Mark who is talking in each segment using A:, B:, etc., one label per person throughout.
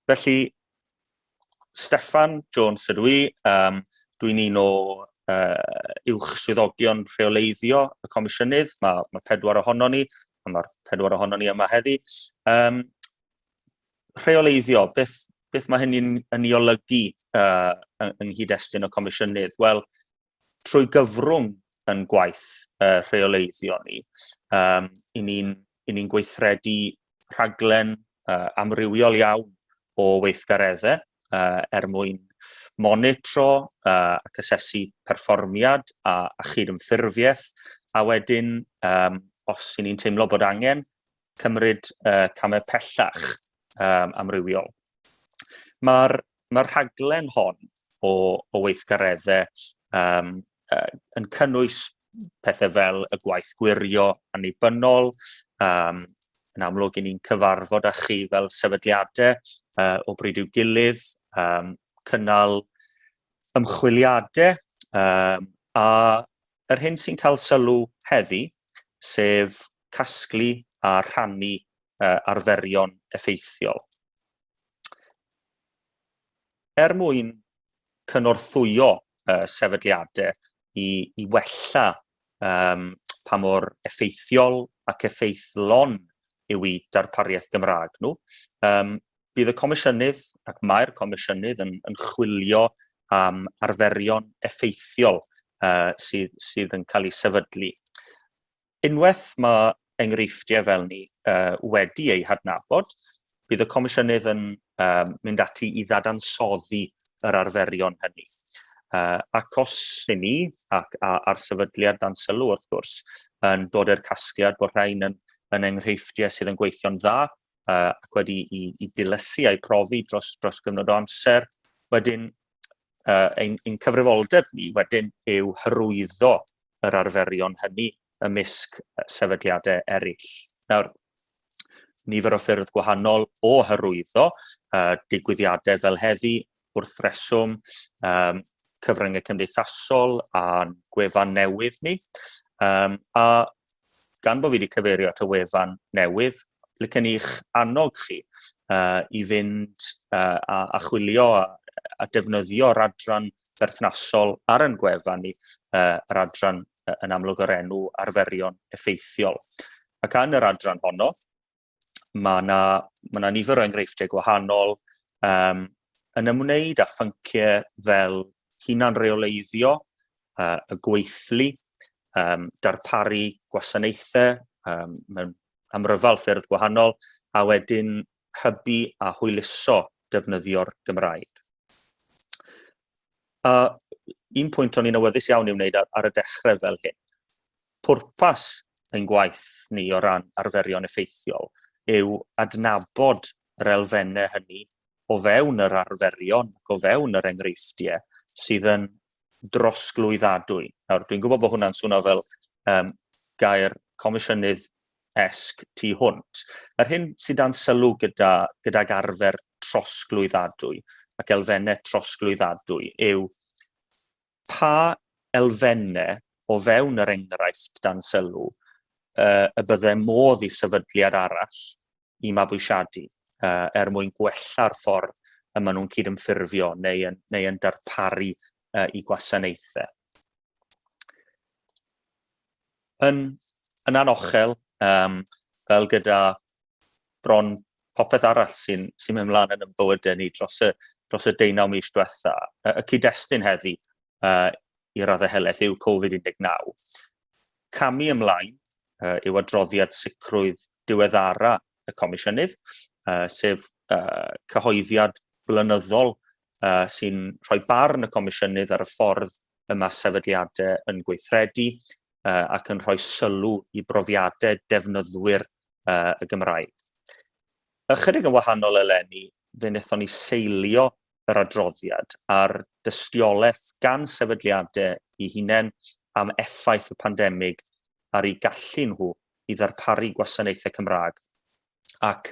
A: Felly, Steffan Jones ydw i. Um, Dwi'n un o uh, uwch swyddogion rheoleiddio y comisiynydd. Mae, ma pedwar ohono ni, a mae'r pedwar ohono ni yma heddi. Um, rheoleiddio, beth, beth mae hynny'n yn ei olygu uh, yng nghyd-destun y comisiynydd? Wel, trwy gyfrwng yn gwaith uh, rheoleiddio ni, um, i ni'n ni gweithredu rhaglen uh, amrywiol iawn o weithgareddau uh, er mwyn monitro uh, ac asesu perfformiad a, a chydymffurfiaeth, a wedyn, um, os i ni'n teimlo bod angen, cymryd uh, camau pellach um, amrywiol. Mae'r Mae'r rhaglen hon o, o weithgareddau um, uh, yn cynnwys pethau fel y gwaith gwirio annibynnol, um, yn amlwg i ni'n cyfarfod â chi fel sefydliadau uh, o bryd i'w gilydd, um, cynnal ymchwiliadau, um, a yr hyn sy'n cael sylw heddi, sef casglu a rhannu uh, arferion effeithiol. Er mwyn cynorthwyo uh, sefydliadau i, i wella um, pa mor effeithiol ac effeithlon yw i darpariaeth Gymraeg nhw. Um, bydd y comisiynydd ac mae'r comisiynydd yn, yn chwilio am arferion effeithiol uh, sydd, sydd yn cael ei sefydlu. Unwaith mae enghreifftiau fel ni uh, wedi eu hadnabod, bydd y Comisiynydd yn uh, mynd ati i ddadansoddi yr arferion hynny. Uh, ac os i ni, ac a'r sefydliad dan sylw wrth gwrs, yn dod i'r casgliad bod rhain yn, yn enghreifftiau sydd yn gweithio'n dda uh, ac wedi i, i dilysu a'i profi dros, dros gyfnod o amser, wedyn uh, ein, ein cyfrifoldeb ni wedyn yw hyrwyddo yr arferion hynny ymysg sefydliadau eraill. Nawr, nifer o ffyrdd gwahanol o hyrwyddo uh, digwyddiadau fel heddi wrth reswm um, cyfryngau cymdeithasol a'n gwefan newydd ni. Um, a gan bod fi wedi cyfeirio at y wefan newydd, licen i'ch annog chi uh, i fynd uh, a, a chwilio a, a defnyddio'r adran berthnasol ar yn gwefan ni, uh, yr adran uh, yn amlwg o'r enw arferion effeithiol. Ac yn yr adran honno, mae yna ma na nifer o enghreifftiau gwahanol um, yn ymwneud â phynciau fel hunan reoleiddio, uh, y gweithlu, um, darparu gwasanaethau um, mewn amryfal ffyrdd gwahanol, a wedyn hybu a hwyluso defnyddio'r Gymraeg. a un pwynt o'n i'n awyddus iawn i'w wneud ar, ar y dechrau fel hyn, pwrpas ein gwaith ni o ran arferion effeithiol yw adnabod yr elfennau hynny o fewn yr arferion ac o fewn yr enghreifftiau sydd yn drosglwyddadwy. Nawr, dwi'n gwybod bod hwnna'n swnio fel um, gair comisiynydd esg tu hwnt. Yr hyn sy'n dan sylw gyda, gydag arfer trosglwyddadwy ac elfennau trosglwyddadwy yw pa elfennau o fewn yr enghraifft dan sylw y bydde modd i sefydliad arall i mabwysiadu uh, er mwyn gwella'r ffordd y maen nhw'n cydymffurfio neu yn, neu yn darparu uh, i gwasanaethau. Yn, yn anochel, um, fel gyda bron popeth arall sy'n sy mynd mlaen yn bywydau ni dros y, dros y deunaw mis diwetha, y, y cyd-destun heddi uh, i raddau helaeth yw Covid-19. Camu ymlaen uh, yw adroddiad sicrwydd diweddara y Comisiynydd, uh, sef uh, cyhoeddiad blynyddol uh, sy'n rhoi barn y Comisiynydd ar y ffordd y mae sefydliadau yn gweithredu uh, ac yn rhoi sylw i brofiadau defnyddwyr uh, y Gymraeg. Ychydig yn wahanol eleni, fe wnaethon ni seilio yr adroddiad a'r dystiolaeth gan sefydliadau i hunain am effaith y pandemig ar eu gallu nhw i ddarparu gwasanaethau Cymraeg, ac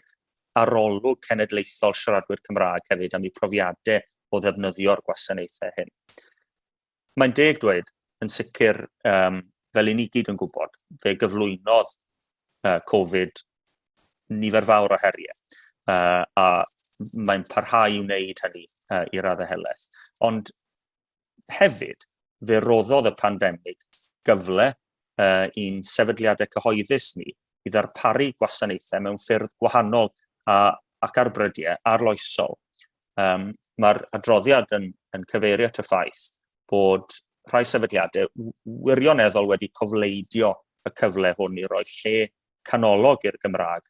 A: arolwg cenedlaethol siaradwyr Cymraeg hefyd am eu profiadau o ddefnyddio'r gwasanaethau hyn. Mae'n deg dweud, yn sicr, um, fel i ni gyd yn gwybod, fe gyflwynodd uh, Covid nifer fawr o heriau. Uh, a mae'n parhau i wneud hynny uh, i raddau helaeth. Ond hefyd, fe roddodd y pandemig gyfle uh, i'n sefydliadau cyhoeddus ni i ddarparu gwasanaethau mewn ffyrdd gwahanol a, ac ar brydiau arloesol. Um, Mae'r adroddiad yn, yn cyfeirio at y ffaith bod rhai sefydliadau wirioneddol wedi cofleidio y cyfle hwn i roi lle canolog i'r Gymraeg,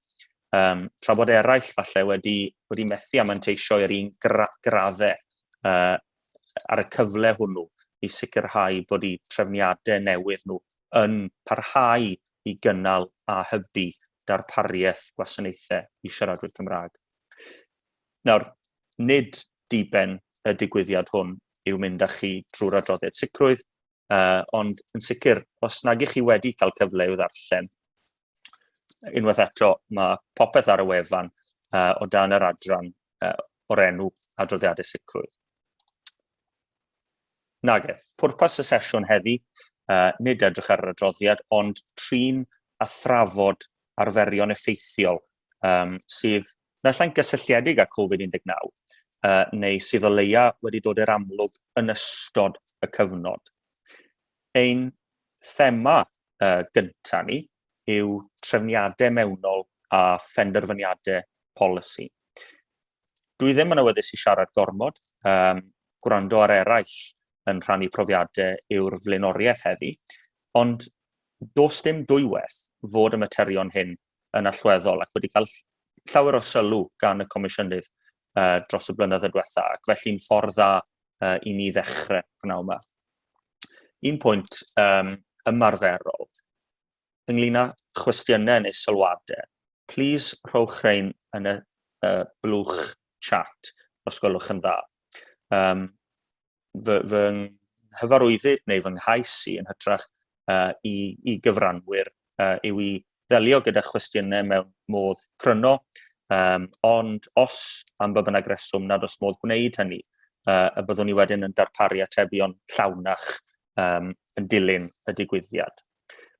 A: um, tra bod eraill falle wedi, wedi methu a manteisio i'r un gra graddau uh, ar y cyfle hwnnw i sicrhau bod eu trefniadau newydd nhw yn parhau i gynnal a hybu darpariaeth gwasanaethau i siaradwyr Cymraeg. Nawr, nid diben y digwyddiad hwn yw mynd â chi drwy'r adroddiad sicrwydd, Uh, ond yn sicr, os nag ych chi wedi cael cyfle i'w ddarllen, unwaith eto, mae popeth ar y wefan uh, o dan yr adran uh, o'r enw adroddiadau sicrwydd. Nag e, pwrpas y sesiwn heddi, uh, nid edrych ar yr adroddiad, ond trin a thrafod arferion effeithiol um, sydd naill gysylltiedig â Covid-19, uh, neu sydd o leia wedi dod i'r amlwg yn ystod y cyfnod. Ein thema uh, gyntaf ni yw trefniadau mewnol a phenderfyniadau polisi. Dwi ddim yn awyddus i siarad gormod, um, gwrando ar eraill yn rhannu profiadau yw'r flaenoriaeth heddi, ond dos dim dwywaith fod y materion hyn yn allweddol ac wedi cael llawer o sylw gan y Comisiynydd uh, dros y blynyddoedd diwetha, ac felly'n ffordd dda uh, i ni ddechrau gwnaw yma. Un pwynt um, ymarferol, ynglyn â chwestiynau neu sylwadau, please rhowch rhain yn y uh, blwch chat, os gwelwch yn dda. Um, fy, fy nghyfarwyddyd neu fy nghais i yn hytrach uh, i, i gyfranwyr uh, yw i ddelio gyda chwestiynau mewn modd cryno, um, ond os am ba bynnag reswm nad os modd gwneud hynny, uh, y byddwn ni wedyn yn darparu atebion llawnach um, yn dilyn y digwyddiad.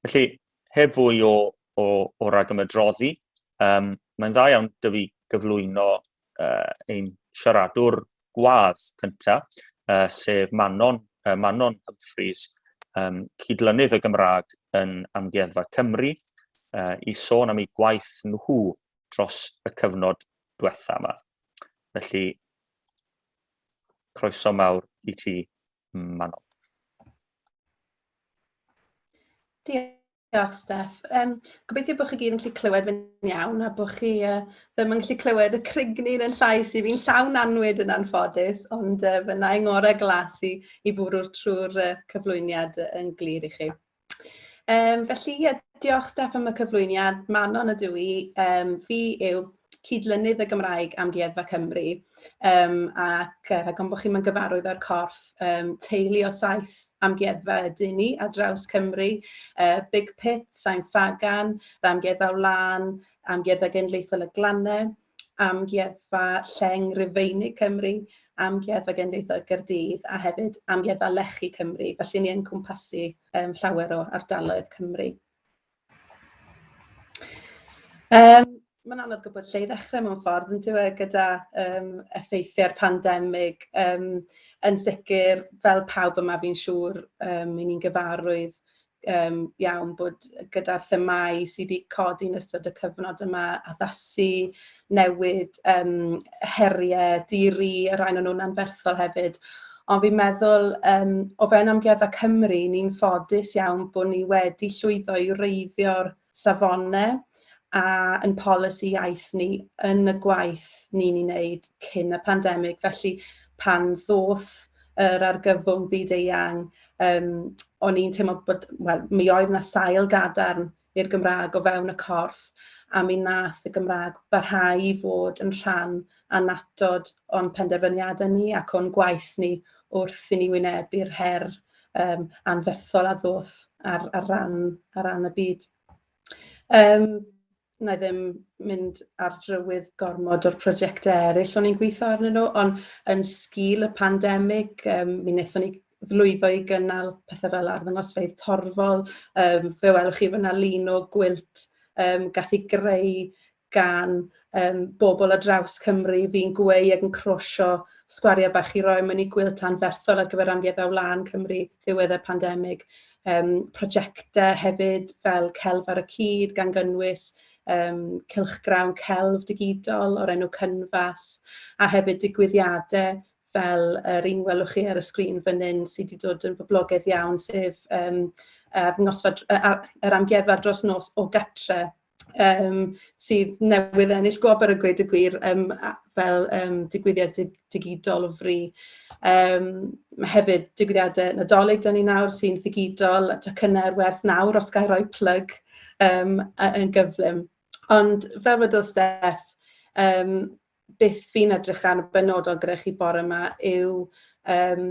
A: Felly, heb fwy o, o, o rag ymedroddi, um, mae'n dda iawn dyfu gyflwyno uh, ein siaradwr gwadd cyntaf, uh, sef Manon, uh, Manon Humphreys, um, cydlynydd y Gymraeg yn Amgueddfa Cymru, uh, i sôn am ei gwaith nhw dros y cyfnod diwetha yma. Felly, croeso mawr i ti, Manon.
B: Diolch. Diolch, Steff. Yym, gobeithio bod chi gyd yn gallu clywed fi'n iawn a bod chi uh, ddim yn gallu clywed y crigni yn llais i fi'n llawn anwyd yn anffodus, ond uh, fy na'i ngorau glas i, i fwrw'r trwy'r uh, cyflwyniad yn glir i chi. Um, felly, yeah, diolch Steff am y cyflwyniad. Manon ydw i. Um, fi yw cyd-lynydd y Gymraeg Amgueddfa Cymru um, ac uh, rhag bod chi'n gyfarwydd â'r corff um, teulu o saith amgueddfa ydy ni ar draws Cymru, uh, Big Pit, Sain Fagan, Ramgueddfa Wlan, Amgueddfa Genedlaethol y Glannau, Amgueddfa Lleng Rufeinig Cymru, Amgueddfa Genedlaethol Gyrdydd a hefyd Amgueddfa Lechi Cymru. Felly ni yn cwmpasu um, llawer o ardaloedd Cymru. Yym mae'n anodd gwybod lle i ddechrau mewn ffordd yn dyw e gyda yym effeithiau'r pandemig yym yn sicr fel pawb yma fi'n siŵr yym ry'n ni'n gyfarwydd yym iawn bod gyda'r themâu sy' 'di codi yn ystod y cyfnod yma, addasu, newid yym heriau di-ri, y rhain o'n nhw'n anferthol hefyd. Ond fi'n meddwl, um, o fewn Amgueddfa Cymru, ni'n ffodus iawn bod ni wedi llwyddo i reiddio'r safonau a yn polisi iaith ni yn y gwaith ni'n ei wneud cyn y pandemig. Felly pan ddoth yr argyfwng byd eang, um, o'n i'n teimlo bod, wel, mi oedd yna sail gadarn i'r Gymraeg o fewn y corff a mi wnaeth y Gymraeg barhau i fod yn rhan annatod o'n penderfyniadau ni ac o'n gwaith ni wrth i ni wynebu'r her um, anferthol a ddoth ar, ar, ran, ar ran y byd. Um, na i ddim mynd ar drywydd gormod o'r prosiectau eraill o'n i'n gweithio arnyn nhw, ond yn sgil y pandemig, um, mi wnaethon ni lwyddo i gynnal pethe fel arddangosfeydd torfol, yym fe welwch chi fan'na lun o gwilt yym gath ei greu gan yym bobl ar draws Cymru, fi'n gweu ac yn crwsio sgwariau bach i roi mewn i gwilt anferthol ar gyfer Amgueddfa Wlân Cymru ddiwedd y pandemig. Yym prosiectau hefyd fel Celf ar y Cyd gan gynnwys yym cylchgrawn celf digidol o'r enw Cynfas a hefyd digwyddiadau fel yr un welwch chi ar y sgrin fan hyn sy 'di dod yn boblogaidd iawn, sef yym arddangosfa yr amgueddfa dros nos o gartre' yym sydd newydd ennill gwobr a gweud y gwir yym a- fel yym digwyddiad di- digidol o fri. Yym ma' hefyd digwyddiadau Nadolig 'da ni nawr sy'n ddigidol a tocynnau ar werth nawr os ga i roi plug yym yy yn gyflym. Ond fel wedodd Steff yym... beth fi'n edrych ar yn benodol gyda chi bore yma yw um,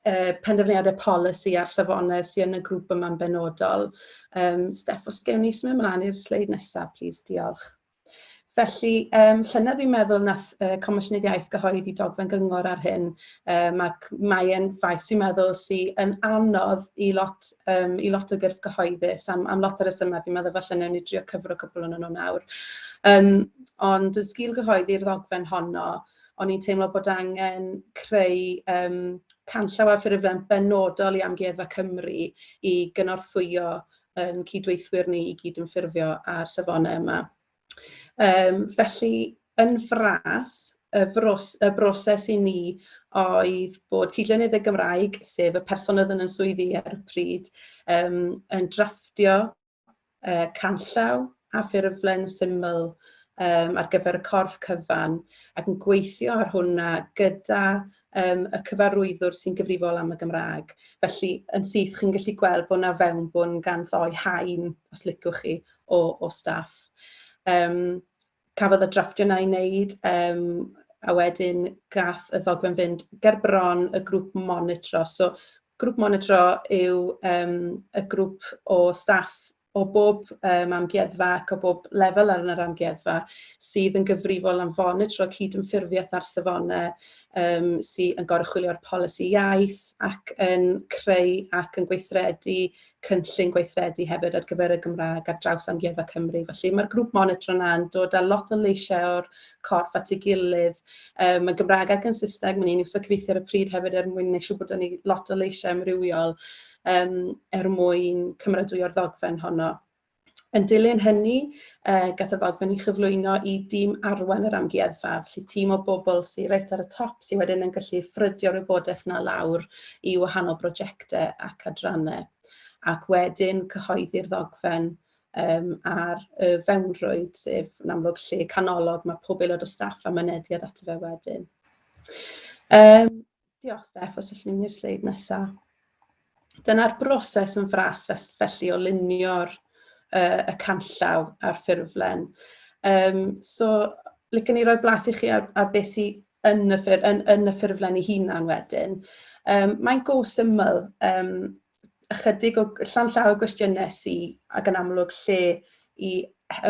B: uh, penderfyniadau polisi a'r safonau sydd yn y grŵp yma'n benodol. Um, Steff, os gewn ni symud ymlaen i'r sleid nesaf, plis, diolch. Felly, um, llynedd fi'n meddwl nath uh, Comisiynydd Iaith gyhoeddi dogfen gyngor ar hyn, Um, ac mae'n faes, dwi'n meddwl, sy'n yn anodd i lot, um, i lot o gyrff gyhoeddus am, am lot o resymau. Fi'n meddwl falle newn ni drio cyfro cwpl o'n nhw nawr. Um, ond yn sgil gyhoeddi'r ddogfen honno, o'n i'n teimlo bod angen creu um, canllaw a ffurflen benodol i Amgueddfa Cymru i gynorthwyo yn cydweithwyr ni i gyd yn ffurfio ar safonau yma. Yym felly yn fras y fros- y broses i ni oedd bod cydlynydd y Gymraeg, sef y person oedd yn y swyddi ar y pryd, yym yn drafftio yy canllaw a ffurflen syml yym ar gyfer y corff cyfan ac yn gweithio ar hwnna gyda yym y cyfarwyddwr sy'n gyfrifol am y Gymraeg. Felly yn syth chi'n gallu gweld bod 'na fewnbwn gan ddou haen, os liciwch chi, o, o staff. Um, cafodd y drafftio na'i wneud, um, a wedyn gath y ddogfen fynd ger bron y grŵp monitro. So, grŵp monitro yw um, y grŵp o staff o bob um, amgueddfa ac o bob lefel ar yr amgueddfa sydd yn gyfrifol am fonitro cydymffurfiaeth ar safonau um, sydd yn gorchwilio'r polisi iaith ac yn creu ac yn gweithredu cynllun gweithredu hefyd ar gyfer y Gymraeg ar draws Amgueddfa Cymru. Felly mae'r grŵp monitro yna'n dod â lot o leisiau o'r corff at ei gilydd um, yn Gymraeg ac yn Saesneg. Mae'n ni'n iwsio cyfeithu ar y pryd hefyd er mwyn neud siŵr bod ni lot o leisiau amrywiol um, er mwyn cymeradwyo'r ddogfen honno. Yn dilyn hynny, gath y ddogfen ei chyflwyno i dîm arwain yr Amgueddfa, felly tîm o bobl sy reit ar y top sy wedyn yn gallu ffrydio'r wybodaeth 'na lawr i wahanol brojectau ac adrannau, ac wedyn cyhoeddi'r ddogfen yym ar y fewnrwyd, sef yn amlwg lle canolog ma' pob aelod o staff a mynediad ato fe wedyn. Yym Diolch Steff, os allwn ni'r sleid nesaf. Dyna'r broses yn fras felly o lunio'r uh, y canllaw a'r ffurflen. Um, so, lycan ni roi blas i chi ar, ar beth sy'n yn y, ffur, yn, yn y ffurflen ei hunan wedyn. Um, mae'n go syml, um, ychydig o llanllaw o gwestiynau sy ag yn amlwg lle i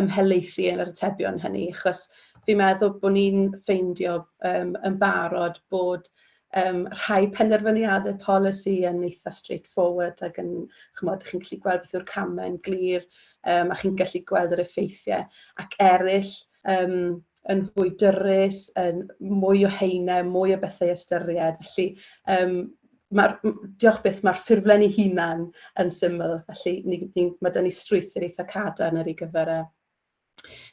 B: ymhelaethu yn yr atebion hynny, achos fi'n meddwl bod ni'n ffeindio yym yn barod bod um, rhai penderfyniadau polisi yn eitha straightforward ac yn, chymod, chi'n gallu gweld beth yw'r camau yn glir um, a chi'n gallu gweld yr effeithiau, ac eraill um, yn fwy dyrus, yn mwy o heine, mwy o bethau ystyried. Felly, um, ma, diolch beth, mae'r ffurflen ei hunan yn syml, felly ni, ni, mae dyn ni strwythyr eitha cadarn ar ei gyfer e.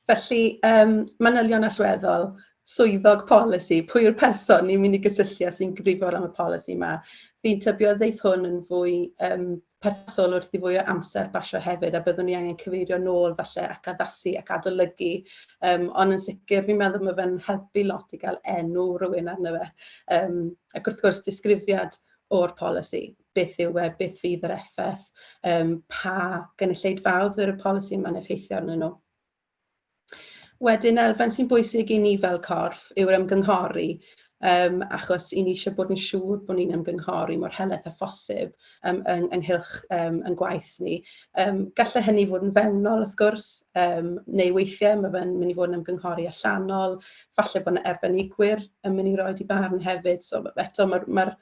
B: Felly, um, manylion allweddol, swyddog polisi, pwy yw'r person ni'n mynd i gysylltu a sy'n gyfrifol am y polisi yma. Fi'n tybio ddeith hwn yn fwy um, perthol wrth i fwy o amser basio hefyd a byddwn ni angen cyfeirio nôl falle ac addasu ac adolygu yym ond yn sicr fi'n meddwl ma' fe'n helpu lot i gael enw rywun arno fe yym ac wrth gwrs disgrifiad o'r polisi, beth yw e, beth fydd yr effaith, yym pa gynulleidfaoedd fydd y polisi yma'n effeithio arnyn nhw. Wedyn elfen sy'n bwysig i ni fel corff yw'r ymgynghori yym achos 'y ni eisiau bod yn siŵr bod ni'n ymgynghori mor helaeth â phosib yym yng ynghylch yym ein gwaith ni. Yym gallai hynny fod yn fewnol wrth gwrs yym neu weithiau ma' fe'n mynd i fod yn ymgynghori allanol, falle bod 'na arbenigwyr yn mynd i roid eu barn hefyd, so eto ma'r ma'r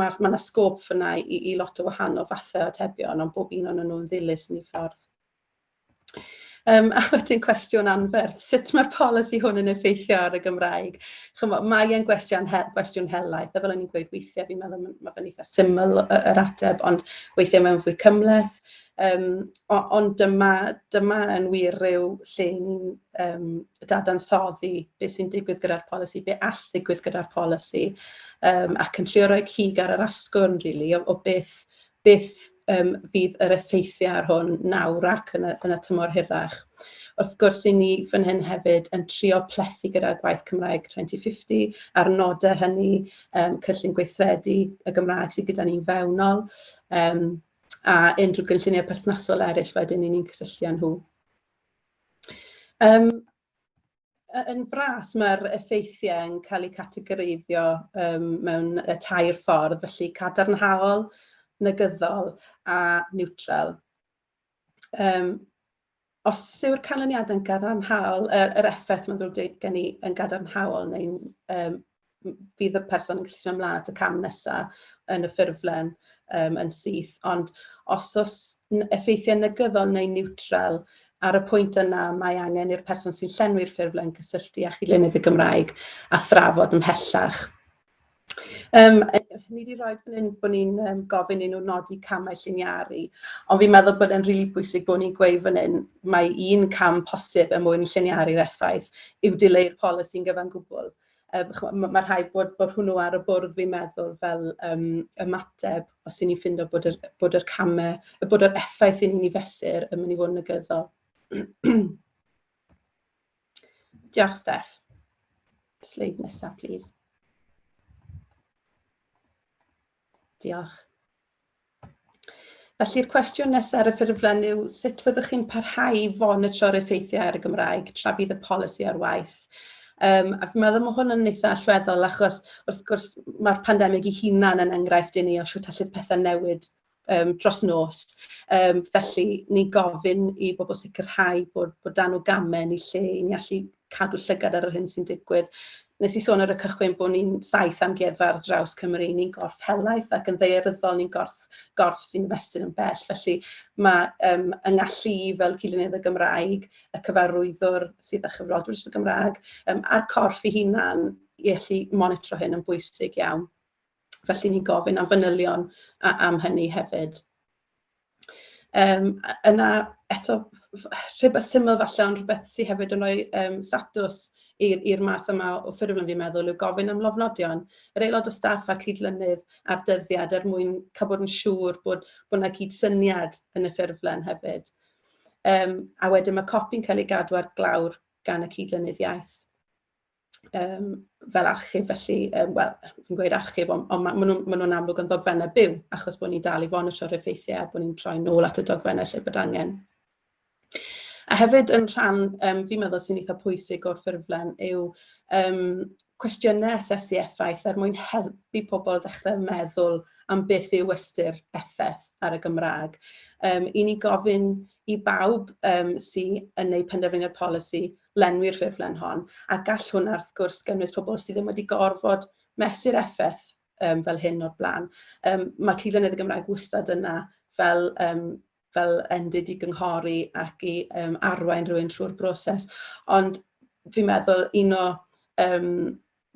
B: ma' ma' 'na sgôp fan'na i i lot o wahanol fathau o atebion ond bob un ohonyn nhw'n ddilys yn eu ffordd. Yym, a wedyn cwestiwn anferth, sut mae'r polisi hwn yn effeithio ar y Gymraeg? Chymod, mae e'n gwestiwn, he, gwestiwn helaeth, a fel o'n i'n gweud weithiau, fi'n meddwl mae fe'n eitha syml yr ateb, ond weithiau mae'n fwy cymleth. Um, ond dyma, dyma yn wir rhyw lle ni'n um, dadansoddi beth sy'n digwydd gyda'r polisi, be all ddigwydd gyda'r polisi, um, ac yn trio rhoi cig ar yr asgwrn, really, o, o beth beth yym fydd yr effeithiau ar hwn nawr ac yn y yn y tymor hirach. Wrth gwrs, 'y ni fan hyn hefyd yn trio plethu gyda gwaith Cymraeg 2050 a'r nodau hynny, yym cynllun gweithredu y Gymraeg sydd gyda ni'n fewnol, yym a unrhyw gynlluniau perthnasol eraill wedyn 'y ni'n cysylltu â nhw. Yym. Yn fras, mae'r effeithiau yn cael eu categoreiddio um, mewn y tair ffordd, felly cadarnhaol, negyddol a niwtral. Um, os yw'r canlyniadau'n gadarnhaol, yr, er, er effaith mae'n ddrwg dweud gen i yn gadarnhaol neu'n um, m- fydd y person yn gallu symud ymlaen at y cam nesaf yn y ffurflen yym yn syth. Ond os oes n- effeithiau negyddol neu niwtral, ar y pwynt yna mae angen i'r person sy'n llenwi'r ffurflen gysylltu â Chyd-lenydd y Gymraeg a thrafod ymhellach. Um, ni wedi rhoi fan hyn bod ni'n um, gofyn i nhw nodi camau lliniaru, ond fi'n meddwl bod e'n rili really bwysig bod ni'n gweud fan hyn mae un cam posib er mwyn lliniaru'r effaith yw dileu'r polisi'n gyfan gwbl. Yym chimod, ma' ma' rhaid bod bod hwnnw ar y bwrdd fi'n meddwl fel yym ymateb os 'yn ni'n ffindo bod yr bod yr camau... y bod yr effaith 'yn ni'n ei fesur yn mynd i fod yn negyddol. Diolch, Steff. Sleid nesa, plis. Diolch. Felly'r cwestiwn nesaf ar y ffurflen yw sut fyddwch chi'n parhau i fonitro'r effeithiau ar y Gymraeg tra bydd y polisi ar waith? Um, a fi'n meddwl mae hwn yn eitha allweddol achos wrth gwrs mae'r pandemig i hunan yn enghraifft i ni o siwt allwyd pethau newid um, dros nos. Um, felly ni'n gofyn i bobl sicrhau bod, bod dan o gamen i lle i ni allu cadw llygad ar yr hyn sy'n digwydd. Nes i sôn ar y cychwyn bod ni'n saith amgueddfa ar draws Cymru, ni'n gorff helaeth ac yn ddaearyddol ni'n gorff, gorff sy'n ymestyn yn bell. Felly mae um, yng ngallu i fel cyllynydd y Gymraeg, y cyfarwyddwr sydd â chyflogwyr y Gymraeg, um, a'r corff i hunan i allu monitro hyn yn bwysig iawn. Felly ni'n gofyn am fanylion a, am hynny hefyd. Yym a yna eto rhywbeth syml falle ond rhywbeth sy hefyd yn rhoi yym statws i'r i'r math yma o ffurflen fi'n meddwl yw gofyn am lofnodion yr aelod o staff a'r cydlynydd a'r dyddiad er mwyn cael bod yn siŵr bod bod 'na gydsyniad yn y ffurflen hefyd. Yym a wedyn mae copi'n cael ei gadw ar glawr gan y cydlynydd iaith. yym fel archif felly yym wel fi'n gweud archif ond ond ma' maen nhw'n maen nhw'n amlwg yn ddogfennau byw achos bod ni'n dal i fonitro'r effeithiau a bod ni'n troi nôl at y dogfennau lle bod angen. A hefyd yn rhan yym fi'n meddwl sy'n eitha pwysig o'r ffurflen yw yym cwestiynau asesu effaith er mwyn helpu pobl ddechrau meddwl am beth yw ystyr effaith ar y Gymraeg. Um, I ni gofyn i bawb um, sy'n yn eu penderfyniad polisi lenwi'r ffurflen hon, a gall hwnna wrth gwrs gynnwys pobl sydd ddim wedi gorfod mesur effaith yym fel hyn o'r blaen. Yym ma' cyd-lenedd y Gymraeg wastad yna fel yym fel endid i gynghori ac i yym arwain rhywun trwy'r broses, ond fi'n meddwl un o yym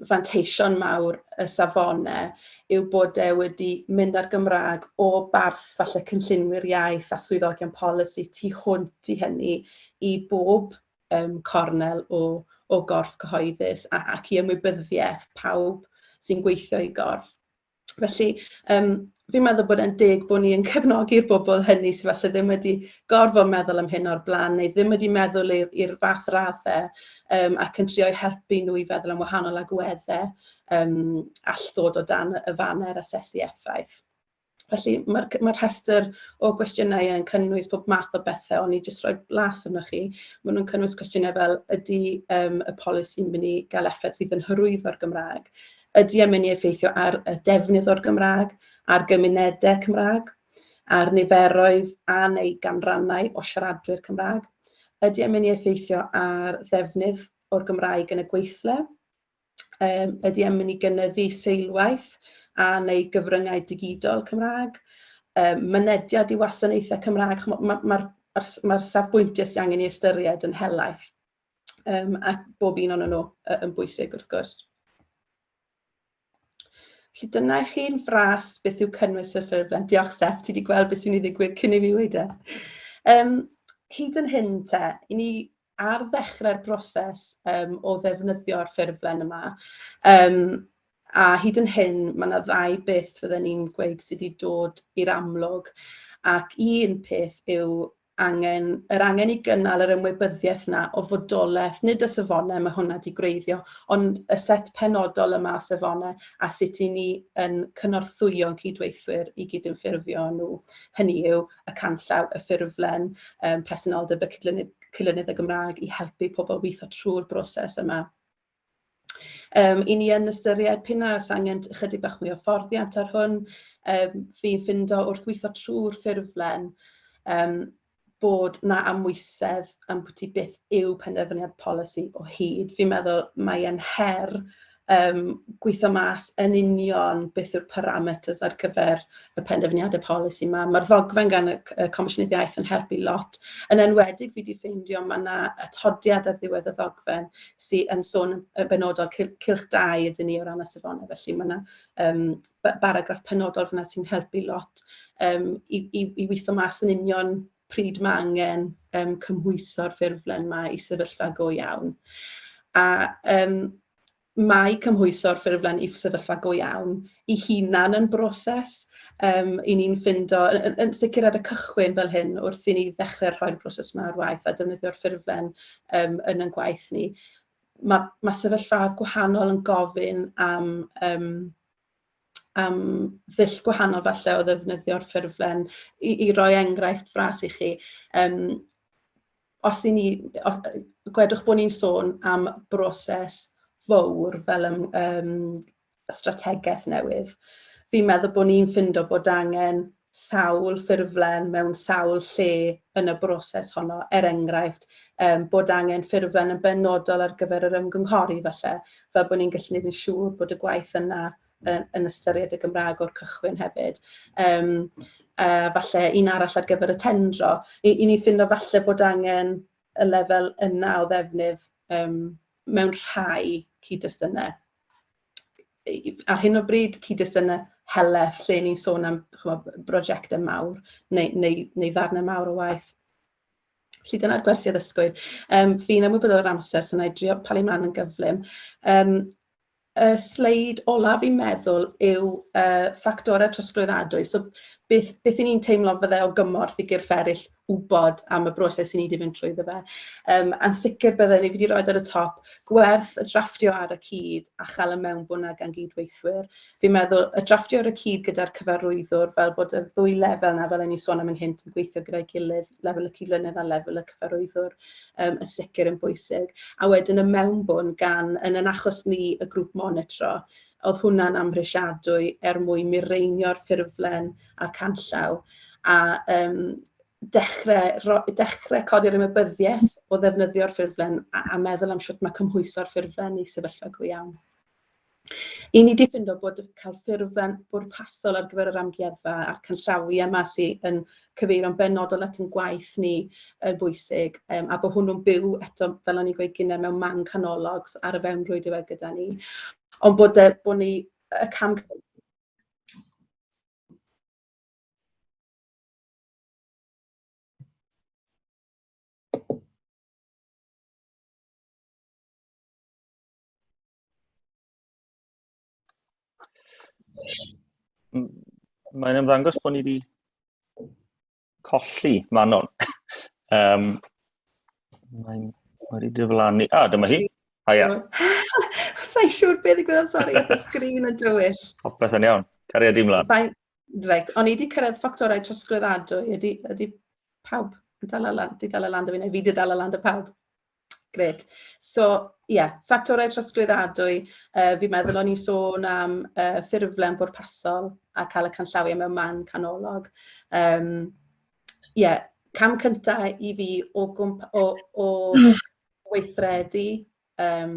B: fanteision mawr y safonau yw bod e wedi mynd â'r Gymraeg o barth falle cynllunwyr iaith a swyddogion polisi tu hwnt i hynny i bob yym cornel o o gorff cyhoeddus a ac i ymwybyddiaeth pawb sy'n gweithio i gorff. Felly yym fi'n meddwl bod e'n deg bod ni yn cefnogi'r bobl hynny sydd falle ddim wedi gorfod meddwl am hyn o'r blaen neu ddim wedi meddwl i'r fath raddau um, ac yn trio'i helpu nhw i feddwl am wahanol agweddau um, all ddod o dan y faner asesu effaith. Felly mae'r mae rhestr o gwestiynau yn cynnwys pob math o bethau, ond i jyst rhoi blas arno chi, maen nhw'n cynnwys cwestiynau fel ydy um, y polisi'n mynd i gael effaith fydd yn hyrwyddo'r Gymraeg, Ydy e'n mynd i effeithio ar y defnydd o'r Gymraeg, ar gymunedau Cymraeg, ar niferoedd a neu ganrannau o siaradwyr Cymraeg? Ydy e'n mynd i effeithio ar ddefnydd o'r Gymraeg yn y gweithle? Yym ydy e'n mynd i gynyddu seilwaith a neu gyfryngau digidol Cymraeg? Yym mynediad i wasanaethau Cymraeg? Chimod ma' ma'r ma'r safbwyntiau sy' angen ei ystyried yn helaeth. Yym a bob un ohonyn nhw yy yn bwysig wrth gwrs. Felly dyna i chi'n fras beth yw cynnwys y ffurflen. Diolch Steph, ti wedi gweld beth sy'n ei ddigwydd cyn i mi wedi. Um, hyd yn hyn te, i ni ar ddechrau'r broses um, o ddefnyddio'r ffurflen yma. Um, a hyd yn hyn, mae yna ddau beth fydden ni'n gweud sydd wedi dod i'r amlwg. Ac un peth yw angen, yr angen i gynnal yr ymwybyddiaeth 'na o fodolaeth, nid y safonau mae hwnna 'di gwreiddio, ond y set penodol yma o safonau a sut 'yn ni yn cynorthwyo'n cydweithwyr i gydymffurfio â nhw. Hynny yw, y canllaw, y ffurflen, yym presenoldeb y cydlynydd, cydlynydd y Gymraeg i helpu pobl weithio trwy'r broses yma. Yym, 'y ni yn ystyried p'un a oes angen ychydig bach mwy o hyfforddiant ar hwn. Yym, fi'n ffindo wrth weithio trwy'r ffurflen yym bod 'na amwysedd ambwti beth yw penderfyniad polisi o hyd. Fi'n meddwl mae e'n her yym gweithio mas yn union beth yw'r parameters ar gyfer y penderfyniadau polisi 'ma. Mae'r ddogfen gan y c- y Comisiynydd Iaith yn helpu lot, yn enwedig fi 'di ffeindio ma' 'na atodiad ar ddiwedd y ddogfen sy yn sôn yn benodol, cylch cylch dau ydyn ni o ran y safonau, felly mae 'na yym ba- baragraff penodol fan'na sy'n helpu lot yym i i i weithio mas yn union pryd ma' angen yym cymhwyso'r ffurflen 'ma i sefyllfa go iawn. A yym mae cymhwyso'r ffurflen i sefyllfa go iawn... ei hunan yn broses, yym, 'y ni'n ffindo, yn sicr ar y cychwyn fel hyn, wrth i ni ddechrau rhoi'r broses 'ma ar waith a defnyddio'r ffurflen yym yn ein gwaith ni, ma' ma' sefyllfaoedd gwahanol yn gofyn am yym am ddull gwahanol falle o ddefnyddio'r ffurflen. I i roi enghraifft fras i chi, yym, os 'y ni... gwedwch bod ni'n sôn am broses fowr fel yym yym y strategaeth newydd, fi'n meddwl bod ni'n ffindo bod angen sawl ffurflen mewn sawl lle yn y broses honno, er enghraifft, um, bod angen ffurflen yn benodol ar gyfer yr ymgynghori falle, fel bod ni'n gallu gwneud yn siŵr bod y gwaith yna yn, yn ystyried y Gymraeg o'r cychwyn hefyd. Um, uh, falle un arall ar gyfer y tendro, i, i ni ffindo falle bod angen y lefel yna o ddefnydd um, mewn rhai cyd-destynau. ar hyn o bryd, cyd-destunau heleth lle ni'n sôn am chymod, brosiectau mawr neu, neu, neu ddarnau mawr o waith. Felly dyna'r gwersi addysgwyr. Um, fi'n ymwybodol o'r amser, so na i drio palu mlaen yn gyflym. Um, y sleid olaf i'n meddwl yw uh, ffactorau trosglwyddadwy. So beth, beth i ni'n teimlo fydde o gymorth i gyrff eraill wybod am y broses i ni 'di mynd trwyddo fe. Yym a'n sicr bydden ni, fi 'di roid ar y top, gwerth y drafftio ar y cyd a chael y mewnbwn 'na gan gyd-weithwyr. Fi'n meddwl y drafftio ar y cyd gyda'r cyfarwyddwr fel bod y ddwy lefel 'na, fel o'n i'n sôn am yn hynt, yn gweithio gyda'i gilydd, lefel y cydlynydd a lefel y cyfarwyddwr yym yn sicr yn bwysig. A wedyn y mewnbwn gan, yn ein achos ni, y grŵp monitro. Oedd hwnna'n amhrisiadwy er mwyn mireinio'r ffurflen a'r canllaw, a yym dechrau ro- dechrau codi'r ymwybyddiaeth o ddefnyddio'r ffurflen a a meddwl am shwt mae cymhwyso'r ffurflen i sefyllfa go iawn. I ni 'di ffindo bod cael ffurflen bwrpasol ar gyfer yr amgueddfa a'r canllawiau 'ma sy yn cyfeirio'n benodol at ein gwaith ni yn bwysig, yym a bod hwnnw'n byw eto, fel o'n i'n gweud gynnau, mewn man canolog, so ar y fewnrwyd yw e gyda ni. Ond bod y, bod ni, y cam...
A: Mae'n ymddangos bod ni wedi Colli, Manon. um, Mae'n wedi diflannu. Ah, dyma hi. Haia.
B: Sa'i siŵr beth i gwybod, sori, y sgrin yn dywyll. Popeth yn iawn.
A: Cariad i mlaen. Fine. Reit, o'n i wedi
B: cyrraedd ffactorau trosglwyddadwy. Ydy, ydy pawb yn dal allan? Di dal allan da fi, neu fi di dal allan da pawb? Grêt. So ie, ffactorau trosglwyddadwy, yy fi'n meddwl o'n i'n sôn am yy ffurflen bwrpasol a cael y canllawiau mewn man canolog. Yym ie, cam cynta i fi o gwmp- o o weithredu yym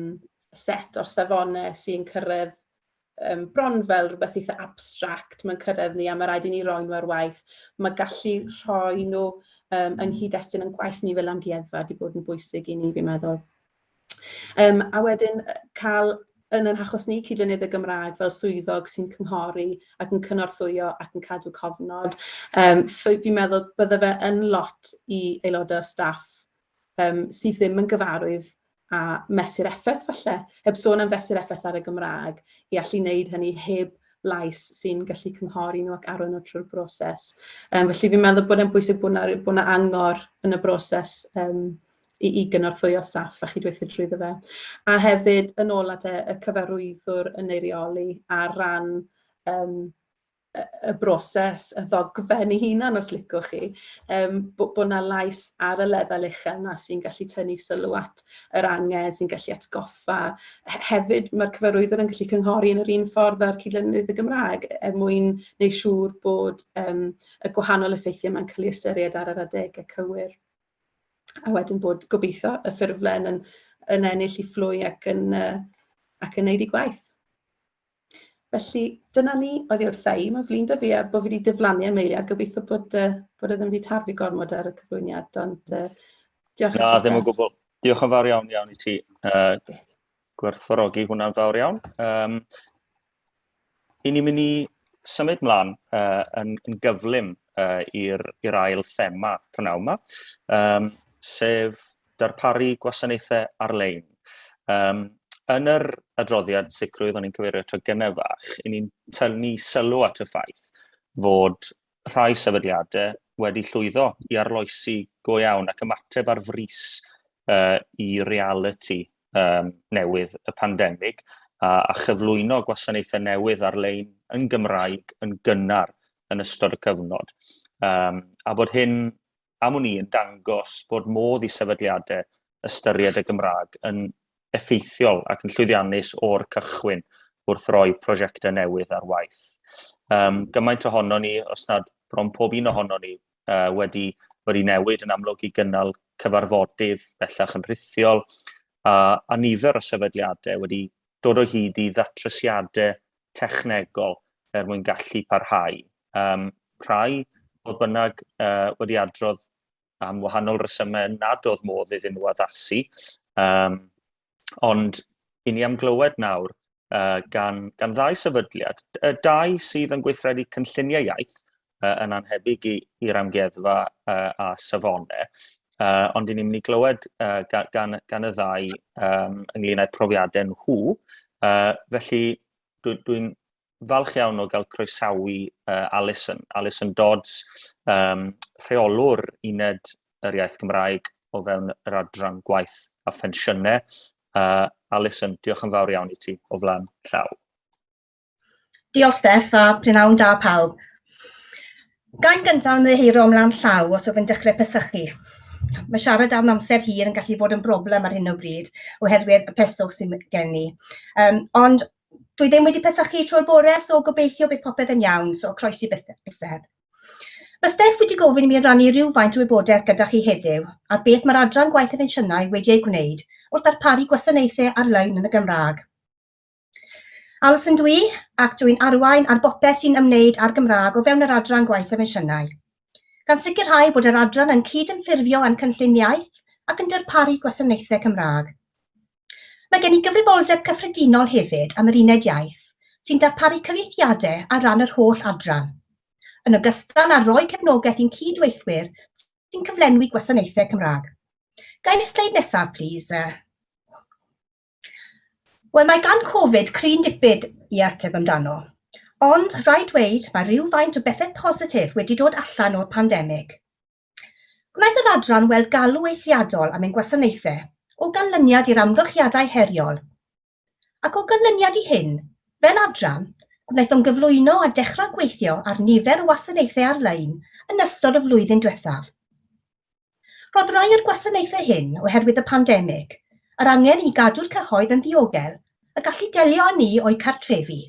B: set o'r safonau sy'n cyrraedd yym, bron fel rhywbeth eitha abstract, mae'n cyrraedd ni a mae rhaid i ni roi nhw ar waith. Mae gallu rhoi nhw um, yng nghyd-destun yn gwaith ni fel amgueddfa wedi bod yn bwysig i ni, fi'n meddwl. Um, a wedyn cael yn yr hachos ni cydlynydd y Gymraeg fel swyddog sy'n cynghori ac yn cynorthwyo ac yn cadw cofnod. Um, fi'n meddwl bydde fe yn lot i aelodau staff um, sydd ddim yn gyfarwydd a mesur effaith falle, heb sôn am fesur effaith ar y Gymraeg, i allu wneud hynny heb lais sy'n gallu cynghori nhw ac arwain nhw trwy'r broses. Um, felly fi'n meddwl bod e'n bwysig bod yna angor yn y broses um, i, i gynorthwyo staff a chydweithio drwyddo fe. A hefyd, yn ôl at y cyfarwyddwr yn eirioli ar ran um, y broses, y ddogfen ei hunan os licwch chi, yym bo' bo' 'na lais ar y lefel uchel 'na sy'n gallu tynnu sylw at yr angen, sy'n gallu atgoffa. He- hefyd ma'r cyfarwyddwr yn gallu cynghori yn yr un ffordd â'r cydlynydd y Gymraeg er mwyn neu' siŵr bod yym y gwahanol effeithie 'ma'n ca'l 'u ystyried ar yr adege cywir. A wedyn bod gobeitho y ffurflen yn yn ennill 'i phlwy ac yn yy ac yn neud 'i gwaith. Felly, dyna ni oddi wrtha i. Mae'n flin da fi a bod fi wedi diflannu am eiliad. Gobeithio bod, uh, bod e ddim wedi tarfu gormod ar y cyflwyniad, ond uh, diolch i ti. Na, ddim yn gwbl.
A: Diolch yn fawr iawn iawn i ti. Uh, gwerthfawrogi hwnna'n fawr iawn. Um, I ni'n mynd i symud mlaen uh, yn, yn gyflym uh, i'r ail thema prynawn yma, um, sef darparu gwasanaethau ar-lein. Um, yn yr adroddiad sicrwydd o'n i'n cyfeirio tro gynnau fach, i ni'n tynnu sylw at y ffaith fod rhai sefydliadau wedi llwyddo i arloesi go iawn ac ymateb ar frys uh, i reality um, newydd y pandemig a, a chyflwyno gwasanaethau newydd ar-lein yn Gymraeg yn gynnar yn ystod y cyfnod. Um, a bod hyn am wn i, yn dangos bod modd i sefydliadau ystyried y Gymraeg yn effeithiol ac yn llwyddiannus o'r cychwyn wrth roi prosiectau newydd ar waith. Um, gymaint ohono ni, os nad bron pob un ohono ni, uh, wedi, wedi newid yn amlwg i gynnal cyfarfodydd bellach yn rhithiol, a, a nifer o sefydliadau wedi dod o hyd i ddatrysiadau technegol er mwyn gallu parhau Um, rhai, oedd bynnag, uh, wedi adrodd am wahanol resymau nad oedd modd iddyn nhw addasu. Um, ond i ni am glywed nawr uh, gan, gan ddau sefydliad, y dau sydd yn gweithredu cynlluniau iaith uh, yn anhebyg i'r amgueddfa uh, a safonau, uh, ond i ni'n mynd i glywed uh, gan, gan, gan y ddau um, ynglyn â'r profiadau nhw. Uh, felly, dwi'n dwi, dwi falch iawn o gael croesawu uh, Alison, Alison Dodds, um, rheolwr uned yr iaith Gymraeg o fewn yr adran gwaith a phensiynau. Uh, Alison, diolch yn fawr iawn i ti o flaen llaw.
C: Diolch Steff a prynawn da pawb. Gael gyntaf yn ddeheiro am lan llaw os ydw'n dechrau pesychu. Mae siarad am amser hir yn gallu bod yn broblem ar hyn o bryd oherwydd y peswch sy'n gen i. Um, ond dwi ddim wedi pesachu tro'r bore, so gobeithio bydd popeth yn iawn, so croesi bysedd. Mae Steph wedi gofyn i mi rannu rhywfaint o wybodaeth gyda chi heddiw ar beth mae'r adran gwaith y pensiynau wedi ei gwneud wrth darparu gwasanaethau ar-lein yn y Gymraeg. Alison dwi, ac dwi'n arwain ar bopeth sy'n ymwneud â'r Gymraeg o fewn yr adran gwaith y pensiynau. Gan sicrhau bod yr adran yn cyd-ymffurfio â'n cynllun iaith ac yn darparu gwasanaethau Cymraeg. Mae gen i gyfrifoldeb cyffredinol hefyd am yr Uned Iaith, sy'n darparu cyfieithiadau ar ran yr holl adran, yn ogystal â rhoi cefnogaeth i'n cyd-weithwyr sy'n cyflenwi gwasanaethau Cymraeg. Gai'r sleid nesaf, plis? Wel, mae gan Covid cryn dipyn i ateb amdano. Ond, rhaid dweud, mae rhywfaint o bethau positif wedi dod allan o'r pandemig. Gwnaeth yr adran weld galw eithriadol am ein gwasanaethau o ganlyniad i'r amgylchiadau heriol, ac o ganlyniad i hyn, fel adran, gwnaethom gyflwyno a dechrau gweithio ar nifer o wasanaethau ar-lein yn ystod y flwyddyn diwethaf. Rhodd rai o'r gwasanaethau hyn oherwydd y pandemig, yr angen i gadw'r cyhoedd yn ddiogel a gallu delio â ni o'u cartrefi.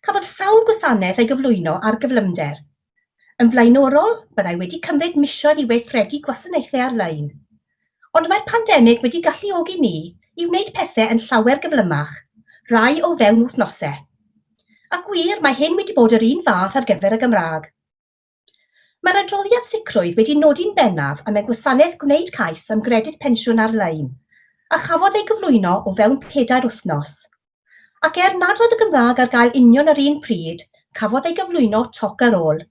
C: Cafodd sawl gwasanaeth ei gyflwyno ar gyflymder. Yn flaenorol, byddai wedi cymryd misoedd i weithredu gwasanaethau ar-lein. Ond mae'r pandemig wedi galluogi ni i wneud pethau yn llawer gyflymach, rai o fewn wythnosau. A gwir, mae hyn wedi bod yr un fath ar gyfer y Gymraeg. Mae'r adroddiad sicrwydd wedi nodi'n bennaf am y gwasanaeth gwneud cais am Gredyd Pensiwn Ar-lein, a chafodd ei gyflwyno o fewn pedair wythnos. Ac er nad oedd y Gymraeg ar gael union yr un pryd, cafodd ei gyflwyno toc ar ôl.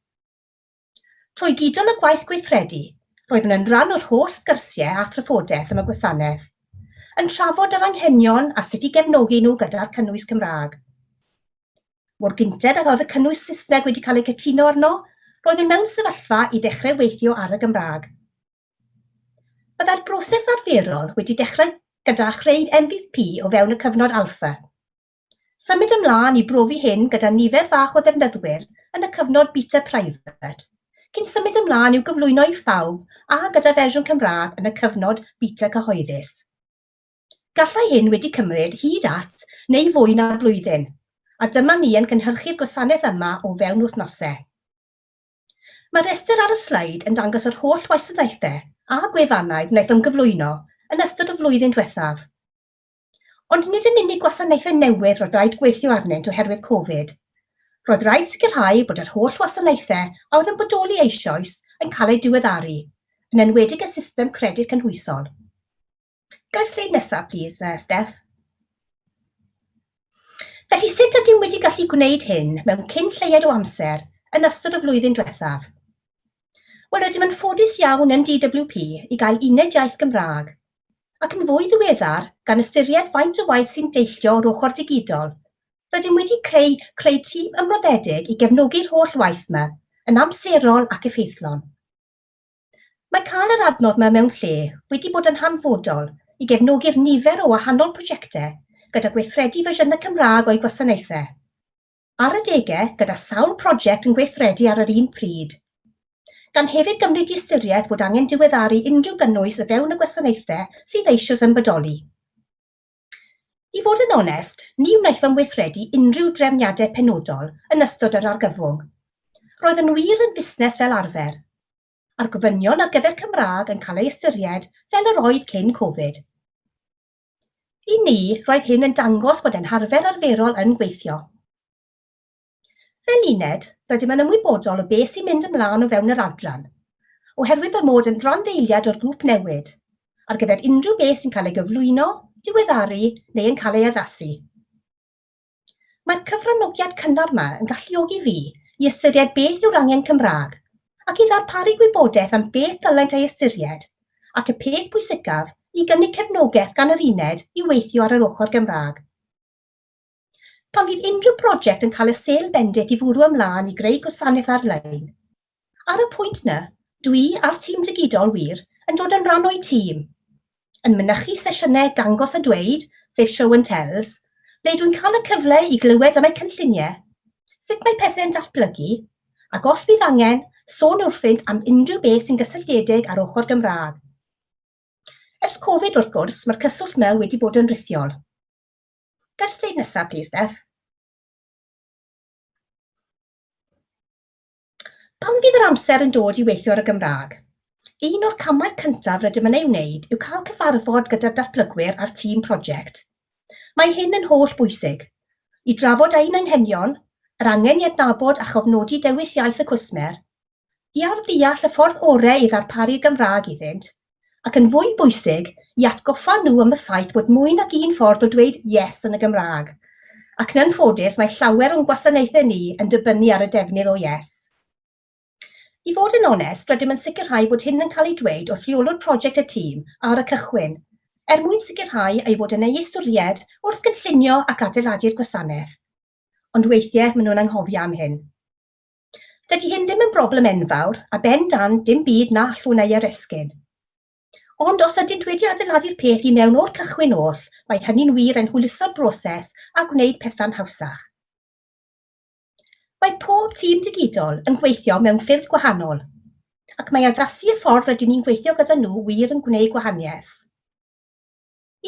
C: Trwy gydol y gwaith gweithredu, roeddwn yn rhan o'r holl sgyrsiau â thrafodaeth am y gwasanaeth, yn trafod yr anghenion a sut i gefnogi nhw gyda'r cynnwys Cymraeg. Mor gynted ag oedd y cynnwys Saesneg wedi cael ei cytuno arno, roeddwn mewn sefyllfa i ddechrau weithio ar y Gymraeg. Byddai'r broses arferol wedi dechrau gyda chreu MVP o fewn y cyfnod alpha. Symud ymlaen i brofi hyn gyda nifer fach o ddefnyddwyr yn y cyfnod beta private, cyn symud ymlaen i'w gyflwyno i phawb a gyda fersiwn Cymraeg yn y cyfnod beta cyhoeddus. Gallai hyn wedi cymryd hyd at neu fwy na blwyddyn, a dyma ni yn cynhyrchu'r gwasanaeth yma o fewn wythnose. Mae'r rhestr ar y sleid yn dangos yr holl wasanaethau a gwefannau gwnaethom gyflwyno yn ystod y flwyddyn diwethaf. Ond nid yn unig gwasanaethau newydd roedd rhaid gweithio arnynt oherwydd Covid. Roedd rhaid sicrhau bod yr holl wasanaethau a oedd yn bodoli eisoes yn cael eu diweddaru, yn enwedig y system credyd cynhwysol. Gair sleid nesaf, plis, uh, Steph. Felly sut ydym wedi gallu gwneud hyn mewn cyn lleied o amser yn ystod y flwyddyn diwethaf? Wel, rydym yn ffodus iawn yn DWP i gael uned iaith Gymraeg, ac yn fwy ddiweddar, gan ystyried faint o waith sy'n deillio o'r ochr digidol, rydym wedi creu creu tîm ymroddedig i gefnogi'r holl waith yma, yn amserol ac effeithlon. Mae cael yr adnodd yma mewn lle wedi bod yn hanfodol i gefnogi'r nifer o wahanol prosiectau gyda gweithredu fersiynau Cymraeg o'u gwasanaethau. Ar adegau, gyda sawl prosiect yn gweithredu ar yr un pryd. Gan hefyd gymryd i ystyriaeth fod angen diweddaru unrhyw gynnwys o fewn y gwasanaethau sydd eisoes yn bodoli. I fod yn onest, ni wnaethom weithredu unrhyw drefniadau penodol yn ystod yr argyfwng. Roedd yn wir yn fusnes fel arfer. A'r gofynion ar gyfer Cymraeg yn cael ei ystyried fel yr oedd cyn Covid. I ni, roedd hyn yn dangos bod ein harfer arferol yn gweithio. Fel uned, rydym yn ymwybodol o beth sy'n mynd ymlaen o fewn yr adran, oherwydd fy mod yn randdeiliad o'r grŵp newid, ar gyfer unrhyw beth sy'n cael ei gyflwyno, diweddaru neu yn cael ei addasu. Mae'r cyfranogiad cynnar yma yn galluogi fi i ystyried beth yw'r angen Cymraeg ac i ddarparu gwybodaeth am beth ddylent ei ystyried ac y peth pwysicaf, i gynnig cefnogaeth gan yr uned i weithio ar yr ochr Gymraeg. Pan fydd unrhyw broject yn cael y sêl bendith i fwrw ymlaen i greu gwasanaeth ar-lein. Ar y pwynt na, dw i a'r tîm digidol wir yn dod yn rhan o'u tîm, yn mynychu sesiynau Dangos a Dweud, sef Show and Tells, ble dwi'n cael y cyfle i glywed am eu cynlluniau, sut mae pethau'n datblygu, ac os fydd angen, sôn wrthynt am unrhyw beth sy'n gysylltiedig â'r ochr Gymraeg. Ers Covid, wrth gwrs, mae'r cyswllt 'na wedi bod yn rithiol. Ga'r sleid nesa plîs Steph. Pan fydd yr amser yn dod i weithio ar y Gymraeg, un o'r camau cyntaf rydym yn ei wneud yw cael cyfarfod gyda'r datblygwyr a'r tîm prosiect. Mae hyn yn holl bwysig, i drafod ein anghenion, yr angen i adnabod a chofnodi dewis iaith y cwsmer, i arddeall y ffordd orau i ddarparu'r Gymraeg iddynt, ac yn fwy bwysig, i atgoffa nhw am y ffaith bod mwy nag un ffordd o dweud 'yes' yn y Gymraeg, ac yn anffodus mae llawer o'n gwasanaethau ni yn dibynnu ar y defnydd o 'yes'. I fod yn onest, rydym yn sicrhau bod hyn yn cael ei dweud wrth Reolwr Prosiect y tîm ar y cychwyn, er mwyn sicrhau ei fod yn ei ystyried wrth gynllunio ac adeiladu'r gwasanaeth. Ond weithiau maen nhw'n anghofio am hyn. Dydy hyn ddim yn broblem enfawr, a ben dan dim byd na allwn ei aresgyn. Ond os ydynt wedi adeiladu'r peth i mewn o'r cychwyn oll, mae hynny'n wir yn hwyluso'r broses a gwneud pethau'n hawsach. Mae pob tîm digidol yn gweithio mewn ffyrdd gwahanol, ac mae addasu y ffordd rydyn ni'n gweithio gyda nhw wir yn gwneud gwahaniaeth.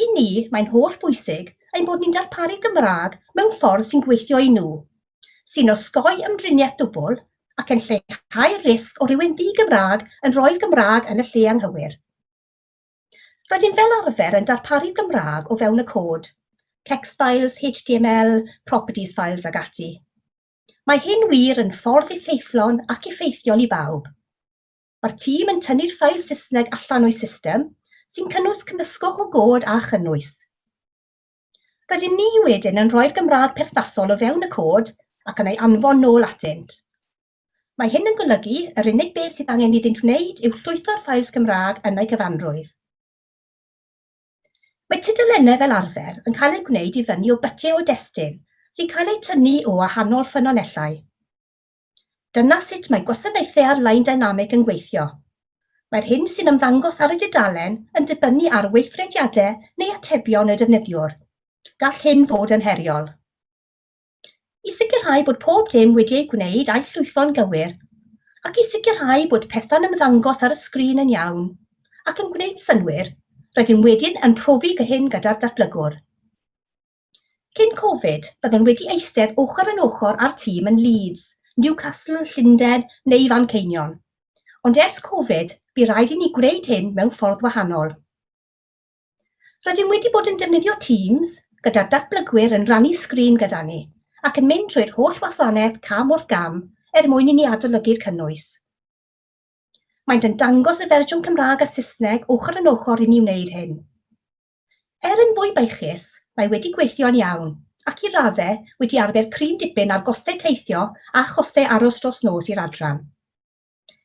C: I ni, mae'n holl bwysig ein bod ni'n darparu Gymraeg mewn ffordd sy'n gweithio i nhw, sy'n osgoi ymdriniaeth dwbl ac yn lleihau'r risg o rywun ddi-Gymraeg yn rhoi'r Gymraeg yn y lle anghywir. Rydym fel arfer yn darparu Gymraeg o fewn y cod, text files, HTML, properties files ag ati. Mae hyn wir yn ffordd effeithlon ac effeithiol i bawb. Mae'r tîm yn tynnu'r ffail Saesneg allan o'i system, sy'n cynnwys cymysgwch o god a chynnwys. Rydyn ni wedyn yn rhoi'r Gymraeg perthnasol o fewn y cod ac yn ei anfon nôl atynt. Mae hyn yn golygu yr unig beth sydd angen iddynt wneud yw llwytho'r ffails Gymraeg yn eu cyfanrwydd. Mae tudalennau fel arfer yn cael eu gwneud i fyny o bytiau o destun sy'n cael eu tynnu o wahanol ffynonellau. Dyna sut mae gwasanaethau ar-lein dynamig yn gweithio. Mae'r hyn sy'n ymddangos ar y dudalen yn dibynnu ar weithrediadau neu atebion y defnyddiwr. Gall hyn fod yn heriol. I sicrhau bod pob dim wedi ei gwneud a'i llwytho'n gywir, ac i sicrhau bod pethau'n ymddangos ar y sgrin yn iawn ac yn gwneud synnwyr, rydym wedyn yn profi hyn gyda'r datblygwr. Cyn Covid, byddwn wedi eistedd ochr yn ochr â'r tîm yn Leeds, Newcastle, Llundain neu Fanceinion. Ond ers Covid, bu raid i ni gwneud hyn mewn ffordd wahanol. Rydym wedi bod yn defnyddio Teams, gyda'r datblygwyr yn rannu sgrin gyda ni, ac yn mynd trwy'r holl wasanaeth cam wrth gam er mwyn i ni adolygu'r cynnwys. Maent yn dangos y fersiwn Cymraeg a Saesneg ochr yn ochr i ni wneud hyn. Er yn fwy beichus, mae wedi gweithio'n iawn, ac i raddau wedi arfer prin dipyn ar gostau teithio a chostau aros dros nos i'r adran.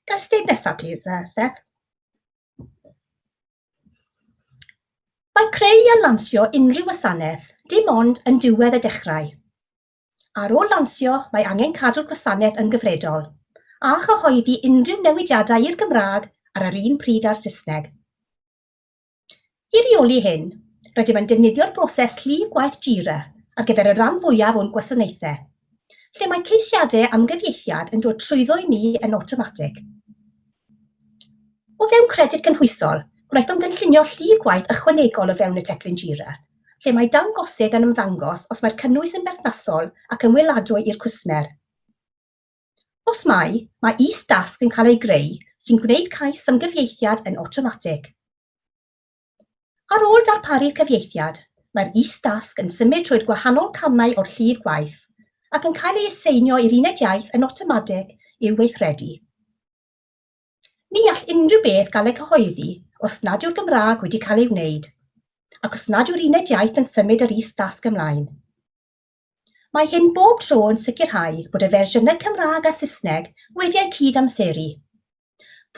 C: Gair steg nesaf, plis, uh, Steph. Mae creu a lansio unrhyw wasanaeth dim ond yn diwedd y dechrau. Ar ôl lansio, mae angen cadw'r gwasanaeth yn gyfredol, a chyhoeddi unrhyw newidiadau i'r Gymraeg ar yr un pryd â'r Saesneg. I reoli hyn, rydym yn defnyddio'r broses llif gwaith Jira ar gyfer y rhan fwyaf o'n gwasanaethau, lle mae ceisiadau am gyfieithiad yn dod trwyddo i ni yn awtomatig. O fewn Credyd Cynhwysol, gwnaethom gynllunio llif gwaith ychwanegol o fewn y teclyn Jira, lle mae dangosydd yn ymddangos os mae'r cynnwys yn berthnasol ac yn weladwy i'r cwsmer. Os mai, mae is-dasg yn cael ei greu sy'n gwneud cais am gyfieithiad yn awtomatig. Ar ôl darparu'r cyfieithiad, mae'r is-dasg yn symud trwy'r gwahanol camau o'r llif gwaith ac yn cael ei aseinio i'r uned iaith yn awtomatig i'w weithredu. Ni all unrhyw beth gael ei gyhoeddi os nad yw'r Gymraeg wedi cael ei wneud ac os nad yw'r uned iaith yn symud yr is-dasg ymlaen. Mae hyn bob tro yn sicrhau bod y fersiynau Cymraeg a Saesneg wedi eu cyd-amseru.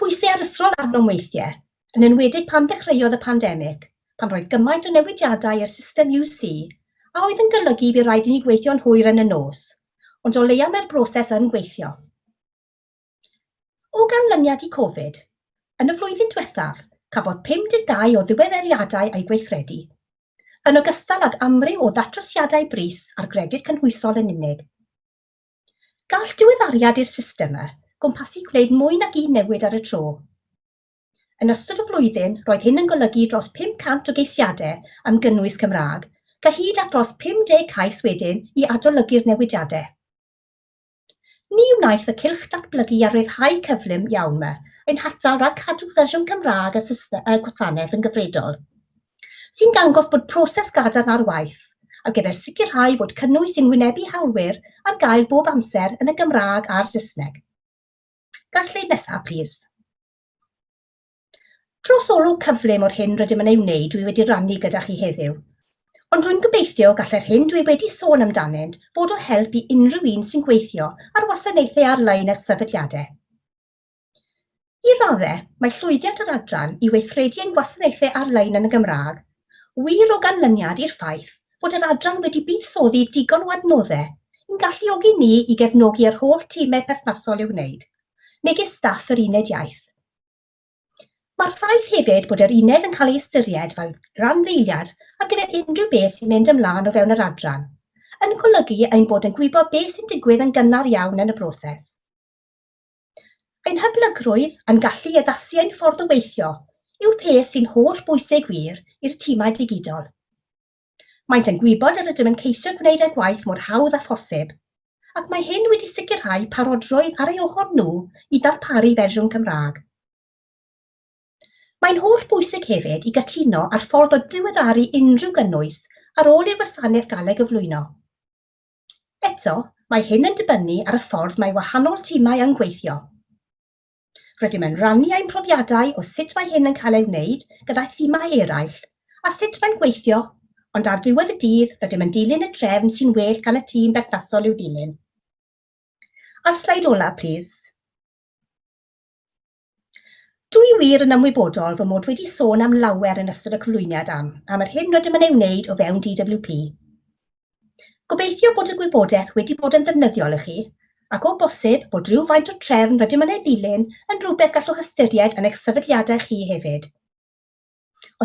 C: Pwysau aruthrol arnom weithiau, yn enwedig pan ddechreuodd y pandemig, pan roedd gymaint o newidiadau i'r system UC a oedd yn golygu bu raid i ni gweithio'n hwyr yn y nos, ond o leia mae'r broses yn gweithio. O ganlyniad i Covid, yn y flwyddyn diwethaf, cafodd 52 o ddiweddariadau eu gweithredu, yn ogystal ag amryw o ddatrysiadau brys ar gredyd cynhwysol yn unig. Gall diweddariad i'r system e gwmpasu gwneud mwy nag un newid ar y tro. Yn ystod y flwyddyn, roedd hyn yn golygu dros 500 o geisiadau am gynnwys Cymraeg, gyhyd â thros 50 cais wedyn i adolygu'r newidiadau. Ni wnaeth y cylch datblygu a rhyddhau cyflym iawn me ein hatal rhag cadw fersiwn Cymraeg y system, y gwasanaeth yn gyfredol, sy'n dangos bod proses gadarn ar waith ar gyfer sicrhau bod cynnwys sy'n wynebu hawlwyr ar gael bob amser yn y Gymraeg a'r Saesneg. Ga'r sleid nesaf, plîs. Dros olwg cyflym o'r hyn rydym yn ei wneud dwi wedi rannu gyda chi heddiw. Ond rwy'n gobeithio gallai'r hyn dwi wedi sôn amdanynt fod o help i unrhyw un sy'n gweithio ar wasanaethau ar-lein a sefydliadau. I raddau, mae llwyddiant yr adran i weithredu ein gwasanaethau ar-lein yn y Gymraeg wir o ganlyniad i'r ffaith bod yr adran wedi buddsoddi digon o adnoddau i'n galluogi ni i gefnogi yr holl timau perthnasol i'w wneud, megis staff yr Uned Iaith. Mae'r ffaith hefyd bod yr uned yn cael ei ystyried fel randdeiliad ar gyfer unrhyw beth sy'n mynd ymlaen o fewn yr adran, yn golygu ein bod yn gwybod beth sy'n digwydd yn gynnar iawn yn y broses. Ein hyblygrwydd a'n gallu i addasu ein ffordd o weithio yw'r peth sy'n holl bwysig wir i'r timau digidol. Maent yn gwybod yr ydym yn ceisio gwneud ein gwaith mor hawdd â phosib, ac mae hyn wedi sicrhau parodrwydd ar ei ochr nhw i ddarparu fersiwn Cymraeg. Mae'n holl bwysig hefyd i gytuno ar ffordd o ddiweddaru unrhyw gynnwys ar ôl i'r wasanaeth gael ei gyflwyno. Eto, mae hyn yn dibynnu ar y ffordd mae wahanol timau yn gweithio. Rydym yn rannu ein profiadau o sut mae hyn yn cael ei wneud gyda thimau eraill a sut mae'n gweithio, ond ar ddiwedd y dydd rydym yn dilyn y trefn sy'n well gan y tîm berthnasol i'w ddilyn. A'r sleid olaf, plis. Dw i wir yn ymwybodol fy mod wedi sôn am lawer yn ystod y cyflwyniad am, am yr hyn rydym yn ei wneud o fewn DWP. Gobeithio bod y gwybodaeth wedi bod yn ddefnyddiol i chi, ac o bosib bod rhywfaint o trefn rydym yn ei ddilyn yn rhywbeth gallwch ystyried yn eich sefydliadau chi hefyd.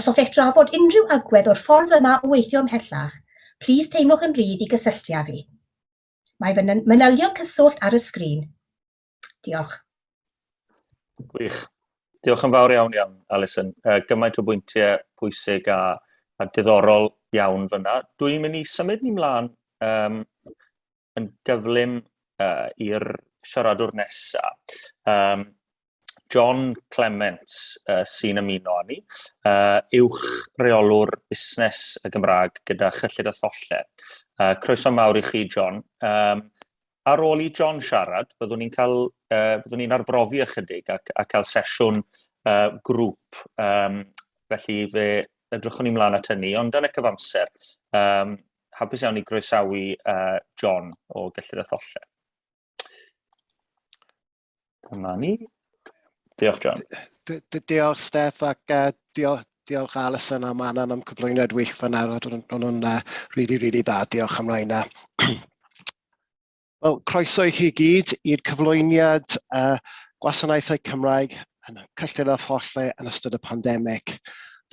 C: Os hoffech drafod unrhyw agwedd o'r ffordd yma o weithio ymhellach, plîs teimlwch yn rhydd i gysylltu â fi. Mae fy manylion cyswllt ar y sgrin. Diolch.
A: Gwych. Diolch yn fawr iawn iawn, Alison. Uh, gymaint o bwyntiau pwysig a, a diddorol iawn fyna. Dwi'n mynd i symud ni mlaen um, yn gyflym uh, i'r siaradwr nesaf. Um, John Clements uh, sy'n ymuno â ni, uh, uwch reolwr busnes y Gymraeg gyda chyllid a tholle. Uh, croeso mawr i chi, John. Um, ar ôl i John siarad, byddwn ni'n cael, uh, byddwn ni'n arbrofi ychydig a, a cael sesiwn uh, grŵp. Um, felly fe edrychwn ni mlaen at hynny, ond yn y cyfamser, um, hapus iawn i groesawu uh, John o Gellid a Tholle. Dyma ni. Diolch, John. Diolch,
D: Steph, ac uh, diolch, diolch Alison a Manon am cyflwyniad wych fan ar, ond nhw'n uh, really, really dda. Diolch am rhain. Wel, croeso i chi gyd i'r cyflwyniad uh, gwasanaethau Cymraeg yn y cyllid a thollau yn ystod y pandemig.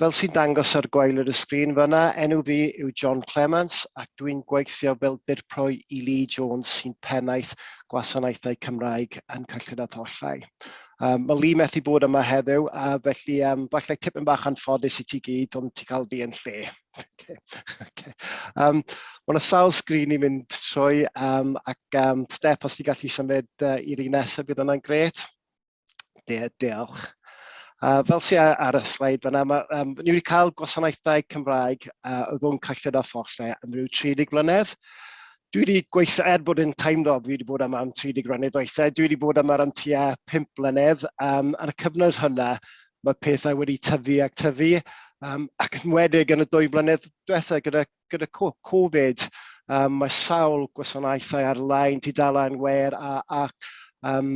D: Fel sy'n dangos ar gwael yr ysgrin fyna, enw fi yw John Clements ac dwi'n gweithio fel dirpro i Lee Jones sy'n pennaeth gwasanaethau Cymraeg yn cyllid a thollau. Um, mae Lee methu bod yma heddiw, a felly um, falle tipyn bach anffodus i ti gyd, ond ti cael fi yn lle. okay. okay. Um, mae yna sawl sgrin i fynd trwy, um, ac um, step os ti'n gallu symud uh, i'r un nesaf, bydd yna'n gret. De, diolch. Uh, fel sy'n ar y sleid fyna, mae, um, ni wedi cael gwasanaethau Cymraeg uh, o ddwng cyllid a ffollau am rhyw 30 blynedd. Dwi wedi gweithio, er bod yn teimlo, fi wedi bod am am 30 blynedd weithiau, dwi wedi bod am ar am tua 5 blynedd. Um, ar y cyfnod hynna, mae pethau wedi tyfu ac tyfu, um, ac yn wedig yn y dwy blynedd diwethaf gyda gyda Covid, um, mae sawl gwasanaethau ar-lein, tudalen wer a, a um,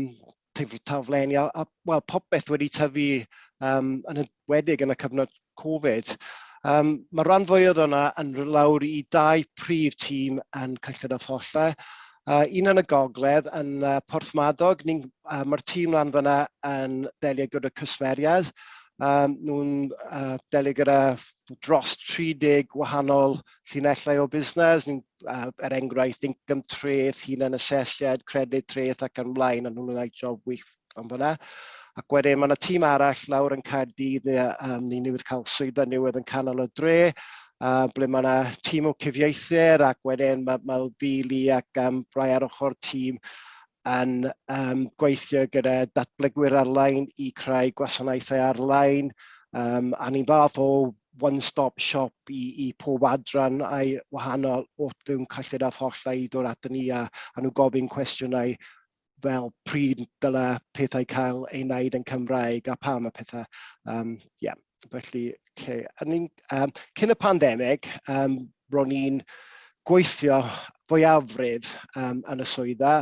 D: taflenni, a, a well, popeth wedi tyfu um, yn ydwedig yn y cyfnod Covid. Um, mae rhan fwy oedd yna yn lawr i dau prif tîm yn Cyllid a Tholle. Uh, un yn y gogledd, yn uh, Porthmadog, uh, mae'r tîm lan fyna yn delio gyda cwsmeriaid, Um, nhw'n uh, delio gyda dros 30 gwahanol llinellau o busnes, ni'n, uh, er enghraifft, income treth, hunan asesiad, credyd treth ac yn mlaen, a nhw'n gwneud job wych am fyna. Ac wedyn mae yna tîm arall lawr yn Caerdydd, ni, um, ni newydd cael swyddfa newydd yn canol y dre, uh, ble mae yna tîm o cyfieithyr ac wedyn mae, mae Fili ac um, Brai ar ochr tîm yn yym gweithio gyda datblygwyr ar-lein i creu gwasanaethau ar-lein, um, a ni'n fath o one-stop shop i, i pob adran a'i wahanol o fewn cyllid a thollau i ddod atyn ni a, a nhw gofyn cwestiynau fel pryd dyle pethau cael ei wneud yn Cymraeg a pam a pethau. Um, yeah. Felly, lle, a ni'n, um, cyn y pandemig, um, ro'n ni'n gweithio fwyafrif um, yn y swydda,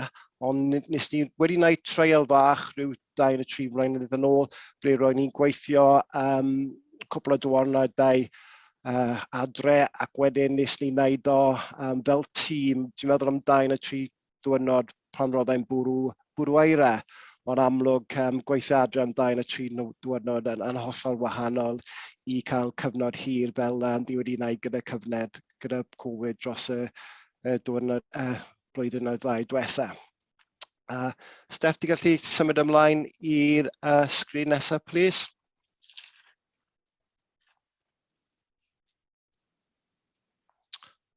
D: ond nes ni wedi gwneud treial fach rhyw dau yn y tri mlynedd yn ôl, ble ro'n ni'n gweithio um, cwpl o diwrnodau uh, adre ac wedyn nes ni wneud o um, fel tîm, dwi'n meddwl am dau yn y tri diwrnod pan roddai'n bwrw, bwrw aira. Ond amlwg, um, gweithio adre am dain a tri diwrnod yn, yn hollol wahanol i cael cyfnod hir fel um, di wedi wneud gyda cyfnod, gyda Covid dros y, y diwrnod y uh, blwyddyn oedd ddau diwetha. Uh, Steph, di gallu symud ymlaen i'r uh, sgrin nesaf, please?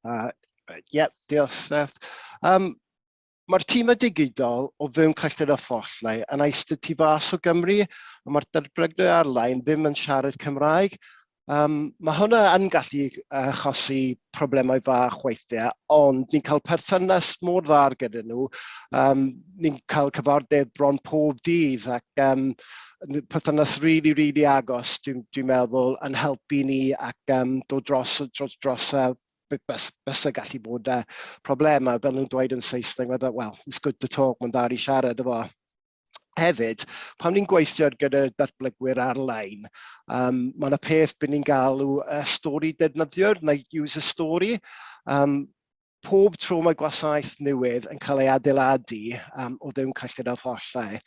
D: Uh, right, yeah, diolch, Steph. Um, Mae'r tîm y digidol o fewn Cyllid a Thollau yn eistedd tu fas o Gymru, ond mae'r derbrygnwyr ar-lein ddim yn siarad Cymraeg. Um, mae hwnna yn gallu achosi problemau fach weithiau, ond ni'n cael perthynas mor dda gyda nhw. Um, ni'n cael cyfarfodydd bron pob dydd ac um, perthynas rili, rili agos, dwi'n dwi meddwl, yn helpu ni ac um, dod dros, dros, dros uh, bys, bys y gallu bod uh, problemau, fel nhw'n dweud yn Saesneg, well, it's good to talk, mae'n dda i siarad efo. Hefyd, pan ni'n gweithio gyda datblygwyr ar-lein, um, mae yna peth byd ni'n galw uh, stori defnyddiwr, neu user story. Um, pob tro mae gwasanaeth newydd yn cael ei adeiladu um, o ddim cyllid a thollau,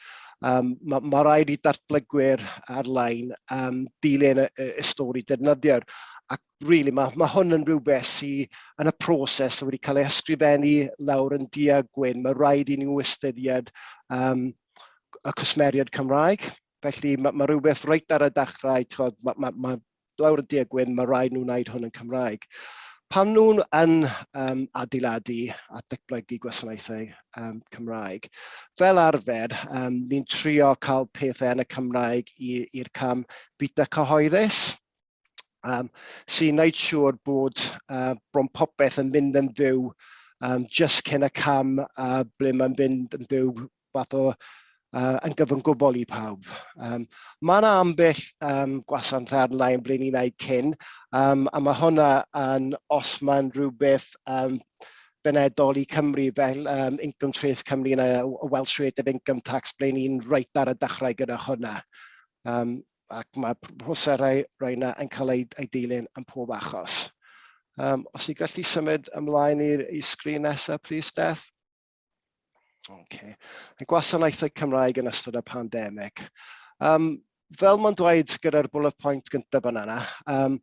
D: um, mae ma rhaid i datblygwyr ar-lein um, dilyn y, y, y stori defnyddiwr. Ac really, mae, mae hwn yn rhywbeth sydd yn y proses wedi cael ei ysgrifennu lawr yn dia gwyn. Mae rhaid i ni ystyried um, y cwsmeriad Cymraeg. Felly mae, mae rhywbeth reit ar y dechrau, mae, mae, mae lawr y du a gwyn, mae rhaid nhw wneud hwn yn Cymraeg. Pan nhw'n yn um, adeiladu a datblygu gwasanaethau um, Cymraeg, fel arfer, um, ni'n trio cael pethau yn y Cymraeg i'r cam bita cyhoeddus, um, sy'n gwneud siŵr bod uh, bron popeth yn mynd yn fyw um, just cyn y cam uh, ble mae'n mynd yn fyw fath o uh, yn gyfyn gwbl i pawb. Um, mae yna ambell um, gwasant arnau yn ble ni'n ei cyn, um, a mae hwnna yn, os mae'n rhywbeth um, benedol i Cymru fel um, Income Trace Cymru yn y Welsh Rate of Income Tax ble ni'n reit ar y dechrau gyda hwnna. Um, ac mae proserau roena yn cael ei, ei dilyn yn pob achos. Um, os i gallu symud ymlaen i'r sgrin nesaf, plis, Steph. Okay. Y gwasanaethau Cymraeg yn ystod y pandemig. Um, fel mae'n dweud gyda'r bullet point gyntaf yn yna, um,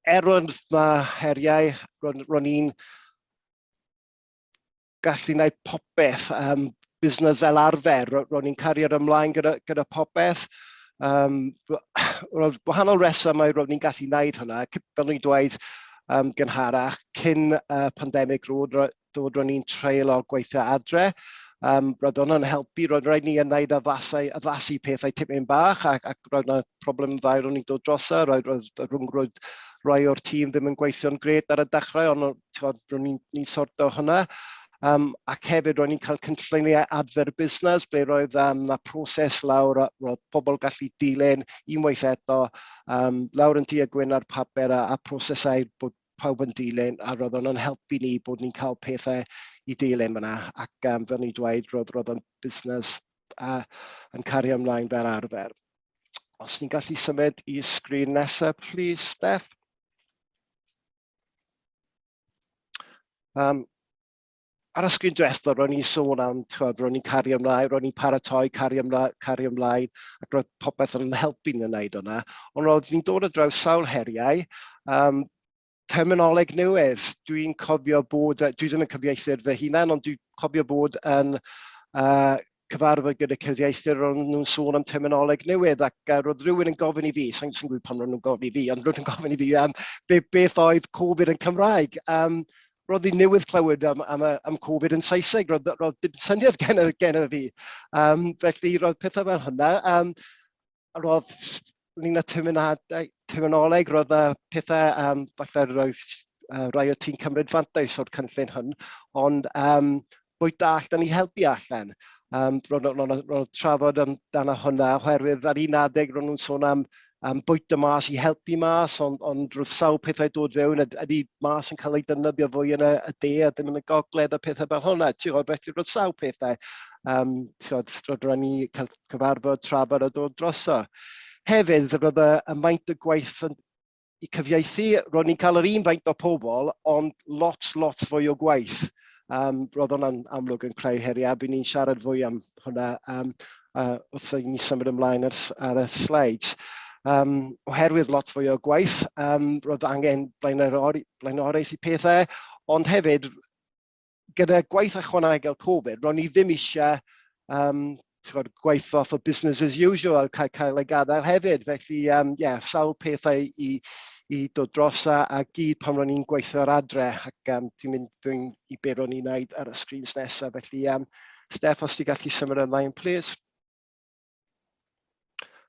D: er roedd yma heriau, ro'n i'n gallu gwneud popeth, um, busnes fel arfer, ro'n i'n cariad ymlaen gyda, gyda popeth. Um, roedd wahanol resymau ro'n i'n gallu gwneud hynna, fel ni'n dweud um, gynharach, cyn uh, pandemig roedd, dod o'n i'n treulio gweithio adre. Um, roedd hwnna'n helpu, roedd rhaid ni yn wneud addasau, addasu pethau tipyn bach ac, ac roedd yna problem ddau ro'n i'n dod drosa, roedd, roedd y rhwngwyd rhai o'r tîm ddim yn gweithio'n gred ar y dechrau, ond ro'n ni'n ni sorto hwnna. Um, ac hefyd ro'n ni'n cael cynlluniau adfer busnes ble roedd um, na proses lawr a roedd pobl gallu dilyn unwaith eto um, lawr yn tu a gwyn ar papur a, a prosesau bod pawb yn dilyn a roedd o'n yn help i ni bod ni'n cael pethau i dilyn fyna ac um, fel ni'n dweud roedd, roedd o'n busnes a, yn cario ymlaen fel arfer. Os ni'n gallu symud i sgrin nesaf, please, Steph. Um, Ar y sgrin diwethaf, ro'n i'n sôn am, tywed, ro'n i'n cario ymlaen, ro'n i'n paratoi, cario ymlaen, cario ymlaen, ac roedd popeth yn helpu ni'n wneud hwnna. Ond roedd ni'n dod o draws sawl heriau, um, terminoleg newydd. Dwi'n cofio bod, dwi ddim yn cyfieithyr fy hunan, ond dwi'n cofio bod yn uh, cyfarfod gyda cyfieithwyr, ro'n nhw'n sôn am terminoleg newydd ac uh, roedd rhywun yn gofyn i fi, sa'n gwybod pam ro'n nhw'n gofyn i fi, ond ro'n nhw'n gofyn i fi am um, be, beth oedd Covid yn Cymraeg. Um, roedd hi newydd clywed am, am, am Covid yn Saesneg, roedd, roedd dim syniad gen, gen fi. Um, felly roedd pethau fel hynna. Um, roedd ni'n y terminadau, terminoleg, roedd y pethau, um, falle roedd uh, rai o ti'n cymryd fantais o'r cynllun hwn, ond um, bwy da allan ni helpu allan. Um, roedd trafod amdano hwnna, oherwydd ar un adeg roedd nhw'n sôn am um, bwyta mas i helpu mas, ond, on roedd sawl pethau dod fewn, ydy mas yn cael ei dynyddio fwy yn y, y de a ddim yn y gogledd a pethau fel hwnna. Ti'n gwybod, felly roedd sawl pethau. Um, ti'n gwybod, roedd ni cael cyfarfod tra fod y dod droso. Hefyd, roedd y maint y gwaith yn i cyfieithu, ro'n ni'n cael yr un faint o pobl, ond lot, lot fwy o gwaith. Um, roedd hwnna'n amlwg yn creu heriau, bydd ni'n siarad fwy am hwnna um, uh, wrth i ni symud ymlaen ar, ar y slides. Um, oherwydd lot fwy o gwaith, um, roedd angen blaenoriaeth i pethau, ond hefyd gyda gwaith ychwanegol Covid, ro'n ni ddim eisiau um, tywed, gwaith fath o business as usual cael, cael ei gadael hefyd. Felly, um, yeah, sawl pethau i, i dod dros a, a gyd pan ro'n ni'n gweithio ar adre ac um, ti'n mynd dwi'n i beth ro'n ni'n neud ar y screens nesaf. Felly, um, Steph, os ti'n gallu symud ymlaen, please.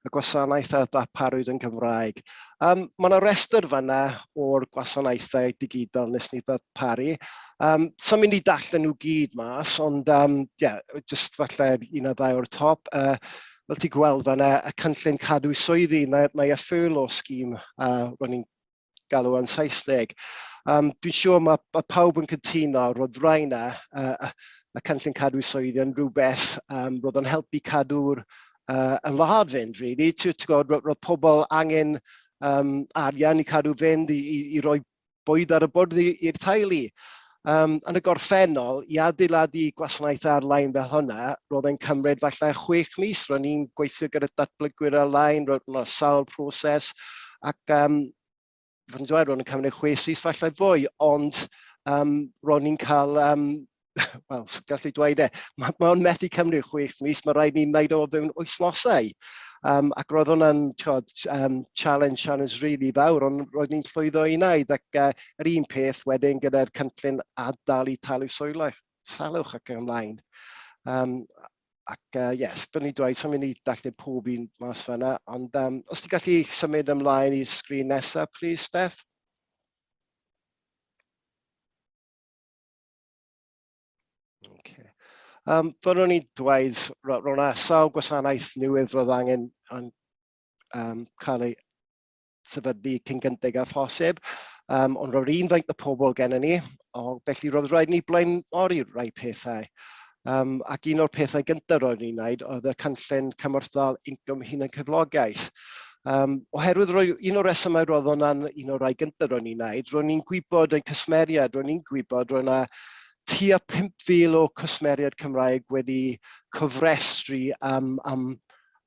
D: y gwasanaeth a ddarparwyd yn Gymraeg. Um, mae yna restr fanna o'r gwasanaethau digidol nes ni ddarparu. Um, Sa'n mynd i dallen nhw gyd mas, ond um, yeah, just falle un o ddau o'r top. Uh, fel ti gweld fanna, y cynllun cadw swyddi, mae, mae y ffyrl o sgîm uh, ro'n i'n galw yn Saesneg. Um, dwi'n siŵr mae, mae pawb yn cytuno, roedd rai na, uh, y cynllun cadw swyddi yn rhywbeth um, roedd yn helpu cadw'r uh, y wlad fynd, really. Ti'n gwybod, roedd pobl angen um, arian i cadw fynd, i, i, i roi bwyd ar y bwrdd i'r teulu. Um, yn y gorffennol, i adeiladu gwasanaeth ar-lein fel hwnna, roedd e'n cymryd falle chwech mis. Roedd ni'n gweithio gyda datblygwyr ar-lein, roedd yna sawl proses, ac um, fod yn dweud, roedd yn cymryd chwech mis falle fwy, ond um, roedd ni'n cael um, wel, gallu dweud e, mae'n ma methu cymryd chwech mis, mae rhaid ni'n wneud o fewn wythnosau. Um, ac roedd hwnna'n um, challenge, challenge really fawr, ond roedd ni'n llwyddo i wneud ac uh, Yr un peth wedyn gyda'r cynllun ad-dal i talu soilwch, salwch ac yn ymlaen. Um, ac uh, yes, byddwn i'n dweud, sy'n mynd i dallu pob un mas fanna, ond um, os ti'n gallu symud ymlaen i'r sgrin nesaf, please, Steph. Um, Fyddwn i'n dweud, roedd yna sawl gwasanaeth newydd roedd angen yn, um, cael ei sefydlu cyn gynted â phosib, um, ond roedd un faint o pobl gennym ni, o, felly roedd rhaid ni blaenori rai pethau. Um, ac un o'r pethau gyntaf roedd ni'n wneud oedd y cynllun cymorthdal incwm hunan cyflogaeth. Um, oherwydd roedd un o'r resymau roedd hwnna'n un o'r rhai gyntaf roedd ni'n wneud, roedd ni'n gwybod yn cysmeriad, roedd ni'n gwybod roedd yna tua 5,000 o cwsmeriaid Cymraeg wedi cofrestru am, am,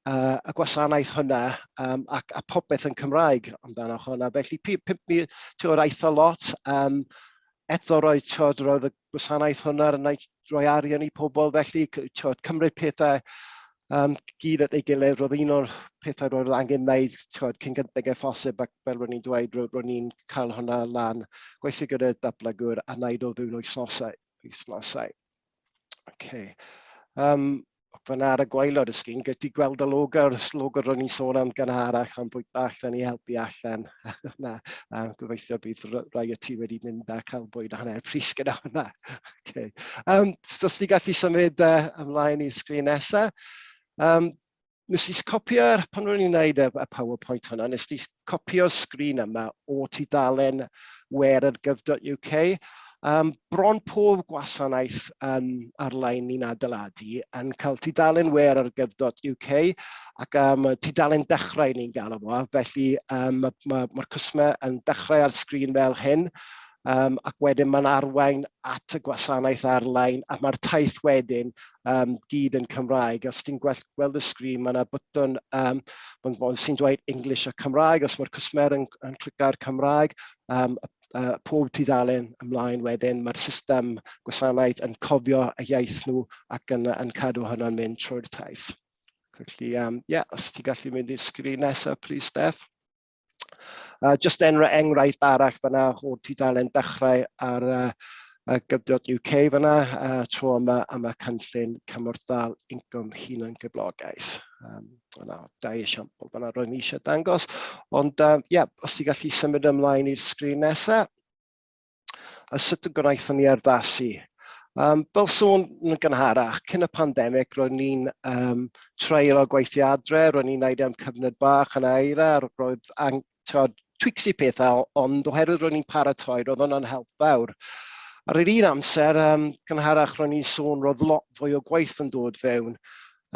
D: uh, y gwasanaeth hwnna um, ac a popeth yn Cymraeg amdano hwnna. Felly pimp mi, tiwod, aeth o lot. Um, eto roedd, tiwod, roedd y gwasanaeth hwnna yn rhoi arian i pobl, felly tiwod, cymryd pethau um, gyd at ei gilydd, roedd un o'r pethau roedd angen wneud tiwod, cyn gyntaf gen ffosib, ac fel ro'n i'n dweud, ro'n i'n cael hwnna lan, gweithio gyda'r dablygwr a wneud o fewn wythnosau. wythnosau. Okay. Um, Fyna ar y gwaelod y sgrin, gyd ti gweld y logo, y logo ro'n i'n sôn am gynharach, am bwy bach, da ni helpu allan. na, a gobeithio bydd rai o ti wedi mynd a cael bwyd a hanner pris gyda hwnna. okay. um, so, os ti gallu symud uh, ymlaen i'r sgrin nesaf, um, nes i copio'r, pan ro'n i'n gwneud y, y PowerPoint hwnna, nes i copïo'r sgrin yma o tudalen wearergyf.uk. Um, bron pob gwasanaeth um, ar-lein ni'n adeiladu yn cael tudalen wer ar gyf.uk ac um, tudalen dechrau ni'n galw fo, felly um, mae'r ma, ma cwsmer yn dechrau ar sgrin fel hyn, um, ac wedyn mae'n arwain at y gwasanaeth ar-lein, a mae'r taith wedyn um, gyd yn Cymraeg. Os ti'n gweld, gweld y sgrin, mae yna bwtwn um, sy'n dweud English a Cymraeg, os mae'r cwsmer yn, yn clica'r Cymraeg, um, uh, pob tudalen ymlaen wedyn, mae'r system gwasanaeth yn cofio y iaith nhw ac yn, yn cadw hynny'n mynd trwy'r taith. Felly, um, yeah, os ti'n gallu mynd i'r sgrin nesaf, please, Steph. Uh, just enra enghraifft arall fyna o'r tudalen dechrau ar uh, uh, gyfnod UK fyna uh, tro yma am y cynllun cymorthdal incwm hunan gyflogaeth. Um, yna, da i esiampl fyna roedd ni eisiau dangos. Ond, um, yeah, os ti gallu symud ymlaen i'r sgrin nesaf. A sut y gwnaethon ni erddasu? Um, fel sôn yn gynharach, cyn y pandemig, roedd ni'n um, treulio gweithio adre, roedd ni'n neud e am cyfnod bach yn aira, roedd ang, tod, twicsi pethau, ond oherwydd roedd ni'n paratoi, roedd hwnna'n help fawr. Ar yr un amser, um, gynharach roedd ni'n sôn, roedd lot fwy o gwaith yn dod fewn,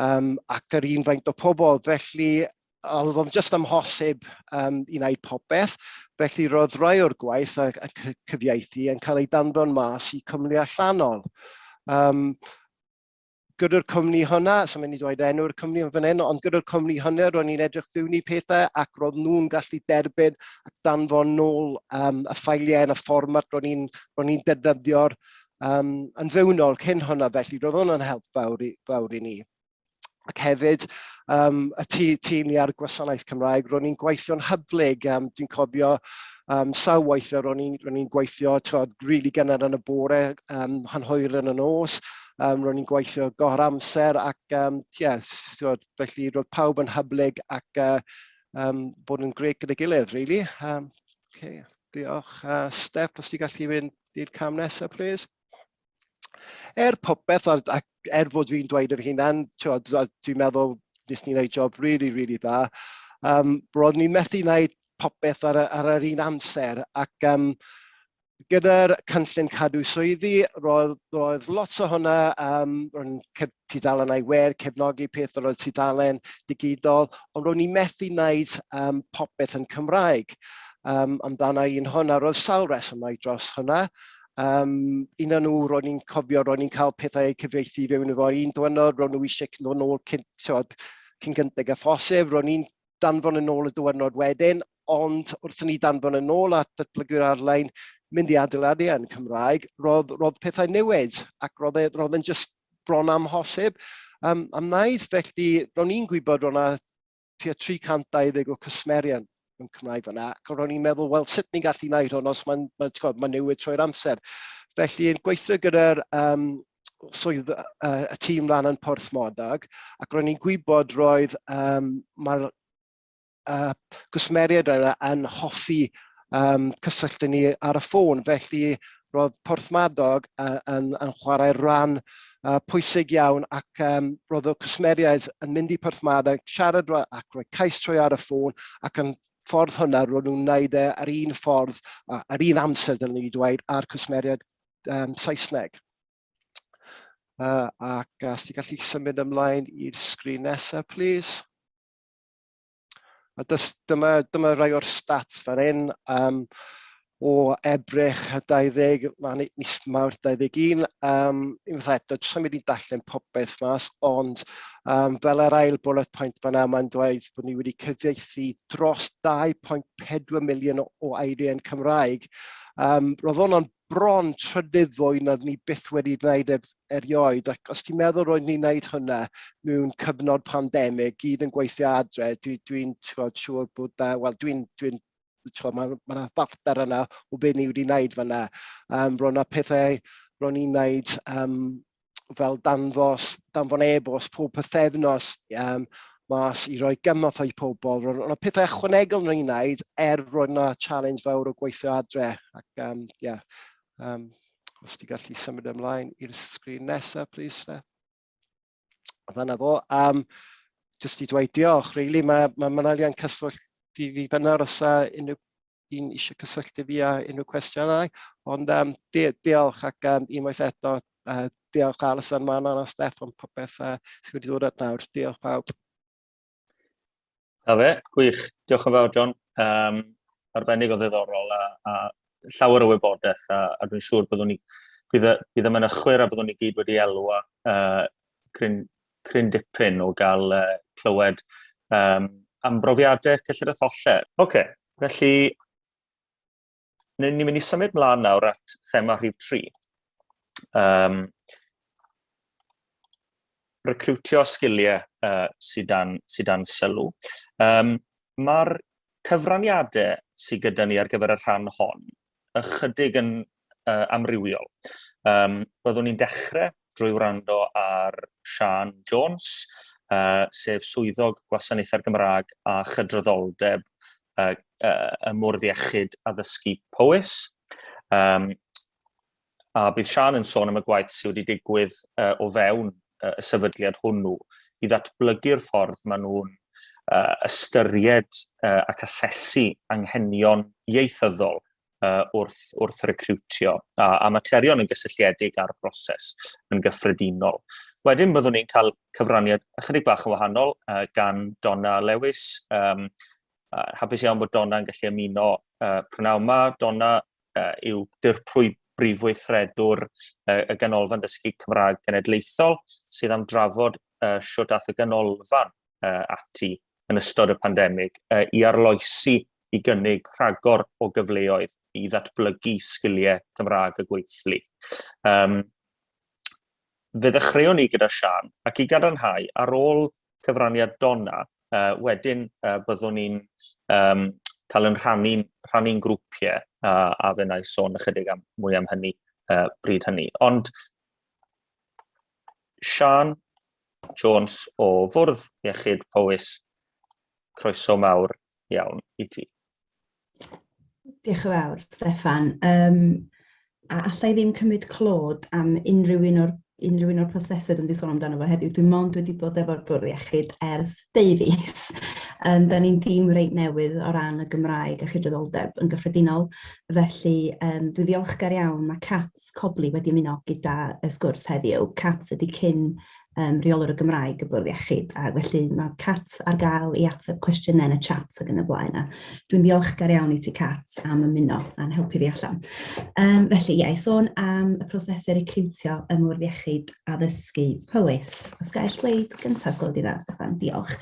D: um, ac yr un faint o pobl, felly oedd o'n just amhosib um, i wneud popeth, felly roedd rai o'r gwaith a, a cyfieithu yn cael ei danfon mas i cwmni allanol. Um, gyda'r cwmni hwnna, so mynd i dweud enw'r cwmni yn fan hyn, ond gyda'r cwmni hwnna ro'n i'n edrych fewn i pethau ac roedd nhw'n gallu derbyn ac danfon nôl um, y ffeiliau yn y fformat ro'n i'n ro ni defnyddio'r um, yn fewnol cyn hwnna, felly roedd hwnna'n help fawr i, fawr i ni. ac hefyd um, y tî, tîm ni ar y gwasanaeth Cymraeg, ro'n i'n gweithio'n hyblyg, um, dwi'n cofio um, sawl waith ro'n i'n gweithio tywed, rili really gynnar yn y bore, um, hanhwyr yn y nos, um, ro'n i'n gweithio gor amser ac um, yes, tywed, felly roedd pawb yn hyblyg ac uh, um, bod yn greu gyda gilydd, really. Um, okay. Diolch. Uh, Steph, os ti gallu mynd i'r cam nesaf, please. er popeth, a, a er fod fi'n dweud yr hunan, dwi'n meddwl nes ni'n gwneud job really, really dda, um, roedd ni'n methu wneud popeth ar, ar yr un amser. Ac um, gyda'r cynllun cadw swyddi, roedd, roedd lot o hwnna, um, roedd cef, tudalen ei wer, cefnogi peth roedd tudalen digidol, ond roedd ni'n methu wneud um, popeth yn Cymraeg um, amdana un hwnna. Roedd sawl resymau dros hwnna, Um, un o'n nhw, ro'n i'n cofio, ro'n i'n cael pethau eu cyfeithi i fewn efo'r un dwynod, ro'n nhw eisiau ddod nôl cyn, tywed, cyn gynteg a phosib, ro'n i'n danfon yn ôl y dwynod wedyn, ond wrth ni danfon yn ôl at datblygu'r arlein, mynd i adeiladu yn Cymraeg, roedd, roedd pethau newid ac roedd, e, roedd yn just bron amhosib um, am wneud. Felly, ro'n i'n gwybod ro'n tua 320 o cwsmerion yn Cymraeg fyna. Ac ro'n i'n meddwl, wel, sut ni'n gallu wneud hwn os mae'n ma, ma, ma newid trwy'r amser. Felly, yn gweithio gyda'r um, swydd uh, y tîm ran yn Porth Modag, ac ro'n i'n gwybod roedd um, mae'r uh, gwsmeriaid yna yn hoffi um, cysylltu ni ar y ffôn. Felly, roedd Porthmadog uh, yn, yn chwarae rhan uh, pwysig iawn ac um, roedd y cwsmeriaid yn mynd i Porthmadog, siarad ac roedd cais trwy ar y ffôn ac yn ffordd hwnna roedd nhw'n wneud e ar un ffordd, uh, ar un amser dylwn ni dweud, a'r cwsmeriaid um, Saesneg. Uh, ac os ti gallu symud ymlaen i'r sgrin nesaf, please. A dys, dyma, dyma rai o'r stats fan hyn. Um, o Ebrech 20, lan mis mawr 21, um, unwaith eto, jyst am mynd i'n darllen popeth mas, ond um, fel yr ail bullet point fan yma, mae'n dweud bod ni wedi cyfieithu dros 2.4 miliwn o, o eiriau yn Cymraeg. Um, roedd hwnna'n bron trydydd fwy nad ni byth wedi gwneud er, erioed. Ac os ti'n meddwl roedd ni'n gwneud hwnna mewn cyfnod pandemig, gyd yn gweithio adre, dwi'n dwi, dwi siŵr bod da, wel dwi'n dwi, dwi mae ma yna farter yna o beth ni wedi gwneud fanna. Um, roedd yna pethau ro'n i'n gwneud um, fel danfos, danfon e-bost pob pythefnos um, mas i roi gymorth i pobl. Roedd yna pethau ychwanegol yn ei wneud er roedd yna challenge fawr o gweithio adre. Ac, um, yeah, um, os ti gallu symud ymlaen i'r sgrin nesaf, please, Steph. Dyna fo. Um, just i dweud diolch, really, mae ma Manalian Cyswllt i fi fyna os a unrhyw sy'n eisiau cysylltu fi a unrhyw cwestiynau. Ond um, di diolch ac um, unwaith eto, uh, diolch Alison, Manon a Steff am popeth uh, sydd wedi dod at nawr. Diolch pawb. A fe,
A: gwych. Diolch yn fawr, John. Um, arbennig o ddiddorol a, a llawer o wybodaeth a, a dwi'n siŵr byddwn ni bydd, bydd yma'n ychwyr a byddwn ni gyd wedi elwa uh, cryn, cryn dipyn o gael uh, clywed um, am brofiadau cyllid a tholler. Oce, okay, felly ni'n mynd i symud mlaen nawr at thema rhif 3. Um, recrwtio sgiliau uh, sydd, dan, sydd dan sylw. Um, Mae'r cyfraniadau sydd gyda ni ar gyfer y rhan hon ychydig yn uh, amrywiol. Um, byddwn ni'n dechrau drwy wrando ar Sian Jones, uh, sef swyddog gwasanaethau'r Gymraeg a chydraddoldeb uh, uh, y Mwrdd Iechyd Addysgu Powys. Um, a bydd Siân yn sôn am y gwaith sydd wedi digwydd uh, o fewn uh, y sefydliad hwnnw i ddatblygu'r ffordd maen nhw'n uh, ystyried uh, ac asesu anghenion ieithyddol uh, wrth, wrth recriwtio a, a materion yn gysylltiedig â'r broses yn gyffredinol. Wedyn byddwn ni'n cael cyfraniad ychydig bach yn wahanol uh, gan Donna Lewis. Um, uh, hapus iawn bod Donna yn gallu ymuno uh, prynawn yma. Donna, uh, yw dirprwy brif weithredwr uh, y Ganolfan Dysgu Cymraeg Genedlaethol sydd am drafod uh, siwt ath y ganolfan uh, ati yn ystod y pandemig uh, i arloesi i gynnig rhagor o gyfleoedd i ddatblygu sgiliau Cymraeg y gweithlu. Um, fe ddechreuwn ni gyda Sian ac i gadarnhau ar ôl cyfraniad Donna, uh, wedyn uh, byddwn ni'n um, cael yn rhannu'n rhannu grwpiau a, a fe wnaeth sôn ychydig am, mwy am hynny uh, bryd hynny. Ond Sian Jones o Fwrdd Iechyd Powys, croeso mawr iawn i ti?
E: Diolch yn fawr, Steffan. Um, a allai ddim cymryd clod am unrhyw un o'r unrhyw un o'r prosesau dwi'n sôn amdano fo heddiw. Dwi'n mond wedi bod efo'r bwrdd iechyd ers deufis. Um, da ni'n dîm reit newydd o ran y Gymraeg a chydraddoldeb yn gyffredinol. Felly, um, dwi ddiolchgar iawn. Mae Cats Cobli wedi ymuno gyda y sgwrs heddiw. Cats ydy cyn um, reolwr y Gymraeg y bwrdd iechyd, a felly mae Cat ar gael i ateb cwestiynau yn y chat ag yn y blaen. Dwi'n ddiolchgar iawn i ti Cat am ymuno a'n helpu fi allan. Um, felly, ie, i sôn am y prosesau recriwtio ym mwrdd iechyd addysgu Powys. Os gael sleid gyntaf, sgol di dda, Stefan, diolch.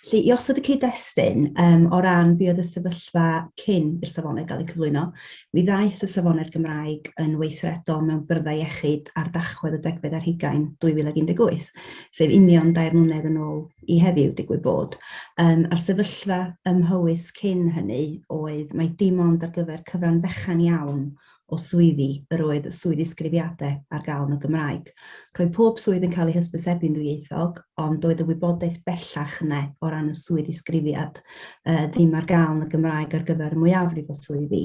E: Felly, i osod y cyd-destun um, o ran be oedd y sefyllfa cyn i'r safonau gael eu cyflwyno, Mi ddaeth y Safonau'r Gymraeg yn weithredol mewn byrddau iechyd ar dachwedd y degfed ar hugain 2018, sef union dair mlynedd yn ôl i heddiw, digwydd bod. Yym, a'r sefyllfa ym Mhowys cyn hynny oedd mai dim ond ar gyfer cyfran fechan iawn o swyddi yr oedd y swydd ddisgrifiadau ar gael yn y Gymraeg. Roedd pob swydd yn cael ei hysbysebu'n ddwyieithog, ond doedd y wybodaeth bellach yna o ran y swydd ddisgrifiad. uh, ddim ar gael yn y Gymraeg ar gyfer y mwyafrif o swyddi,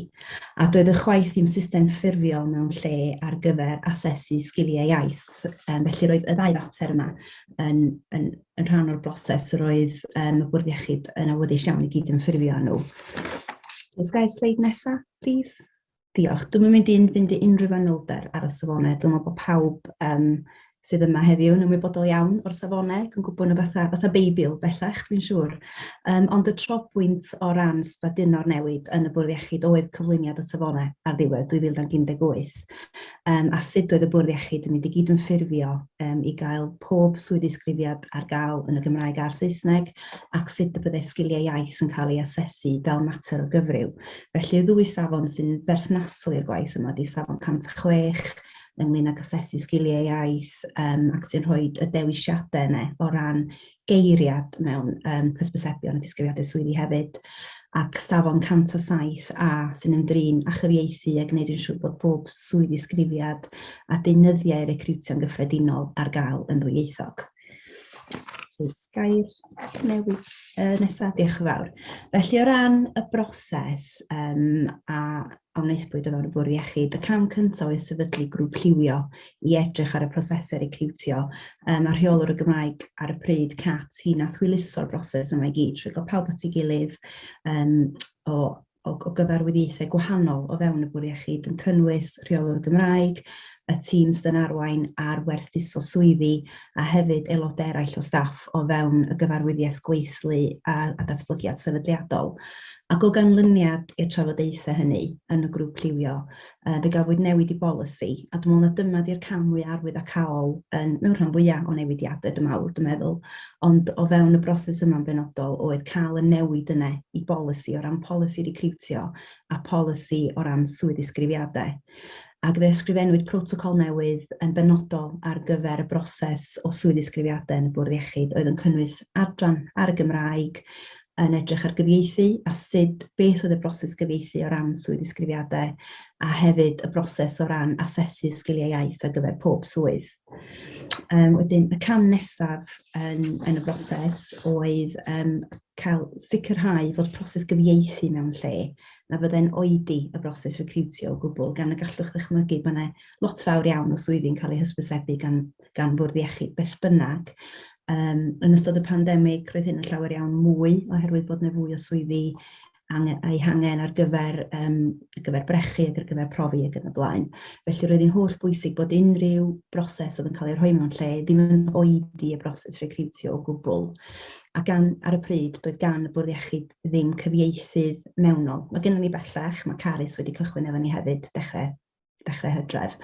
E: a doedd y chwaith ddim system ffurfiol mewn lle ar gyfer asesu sgiliau iaith. Um, felly roedd y ddau fater yma yn, yn, yn rhan o'r broses roedd um, y bwrdd iechyd yn awyddus iawn i gyd yn ffurfio nhw. Ysga'i sleid nesaf, please. Diolch. Dwi'n mynd i'n fynd i unrhyw fanylder ar y safonau. Dwi'n meddwl bod pawb um, sydd yma heddiw yn ymwybodol iawn o'r safonau, yn gwybod nhw fatha, fatha beibl bellach, dwi'n siŵr. Um, ond y trobwynt o ran sbaduno'r newid yn y bwrdd iechyd oedd cyflwyniad y safonau ar ddiwedd 2018. Um, a sut oedd y bwrdd iechyd yn mynd i gyd yn ffurfio um, i gael pob swyddi sgrifiad ar gael yn y Gymraeg a'r Saesneg ac sut y byddai sgiliau iaith yn cael ei asesu fel mater o gyfryw. Felly y ddwy safon sy'n berthnasol i'r gwaith yma ydy safon 106 ynglyn ag asesu sgiliau iaith um, ac sy'n rhoi y dewisiadau yna o ran geiriad mewn um, cysbysebion a disgrifiadau swyddi hefyd ac safon 107 a sy'n ymdrin â chyfieithu a gwneud yn siŵr bod pob swyddi sgrifiad a deunyddiau recriwtio'n gyffredinol ar gael yn ddwyieithog. Jyst gair newydd uh, nesaf, diolch yn fawr. Felly o ran y broses um, a a wnaethpwyd o fewn y bwrdd iechyd, y cam cyntaf oedd sefydlu grŵp lliwio i edrych ar y prosesau recriwtio. Um, a rheolwr y Gymraeg ar y pryd, Cat, hi nath hwyluso'r broses yma i gyd, trwy gael pawb at ei gilydd um, o o, o gyfarwyddiaethau gwahanol o fewn y Bwrdd Iechyd yn cynnwys Rheolwr Gymraeg, y tîm Stun Arwain a'r Werthuso Swyddi a hefyd aelodau eraill o staff o fewn y Gyfarwyddiaeth Gweithlu a, a Datblygiad Sefydliadol. Ac o ganlyniad i'r trafodaethau hynny yn y grŵp lliwio, Yy, fe gafwyd newid i bolisi, a dw i'n meddwl na dyna 'di'r cam mwya' arwyddocaol yn, mewn rhan fwya' o newidiade, dw i'n meddwl, dw i'n meddwl. Ond o fewn y broses yma'n benodol oedd cael y newid yna i bolisi, o ran polisi recriwtio a polisi o ran swydd-ddisgrifiade. Ac fe ysgrifennwyd protocol newydd yn benodol ar gyfer y broses o swydd-ddisgrifiade yn y Bwrdd Iechyd, oedd yn cynnwys adran ar y Gymraeg, yn edrych ar gyfieithu a sut, beth oedd y broses gyfieithu o ran swydd ddisgrifiadau a hefyd y broses o ran asesu sgiliau iaith ar gyfer pob swydd. Um, wedyn, y cam nesaf yn, yn y broses oedd um, cael sicrhau fod proses gyfieithu mewn lle na fydde'n oedi y broses recriwtio o gwbl, gan y gallwch ddychmygu bod yna lot fawr iawn o swyddi'n cael eu hysbysebu gan gan Fwrdd Iechyd beth bynnag. Um, yn ystod y pandemig, roedd hyn yn llawer iawn mwy oherwydd bod yna fwy o swyddi a'i hangen ar gyfer, um, ar gyfer brechu ac ar gyfer profi ac yn y blaen. Felly roedd hi'n holl bwysig bod unrhyw broses oedd yn cael ei rhoi mewn lle ddim yn oedi y broses recriwtio o gwbl. A gan, ar y pryd, doedd gan y bwrdd iechyd ddim cyfieithydd mewnol. Mae gennym ni bellach, mae Carys wedi cychwyn efo ni hefyd, dechrau dechrau hydref,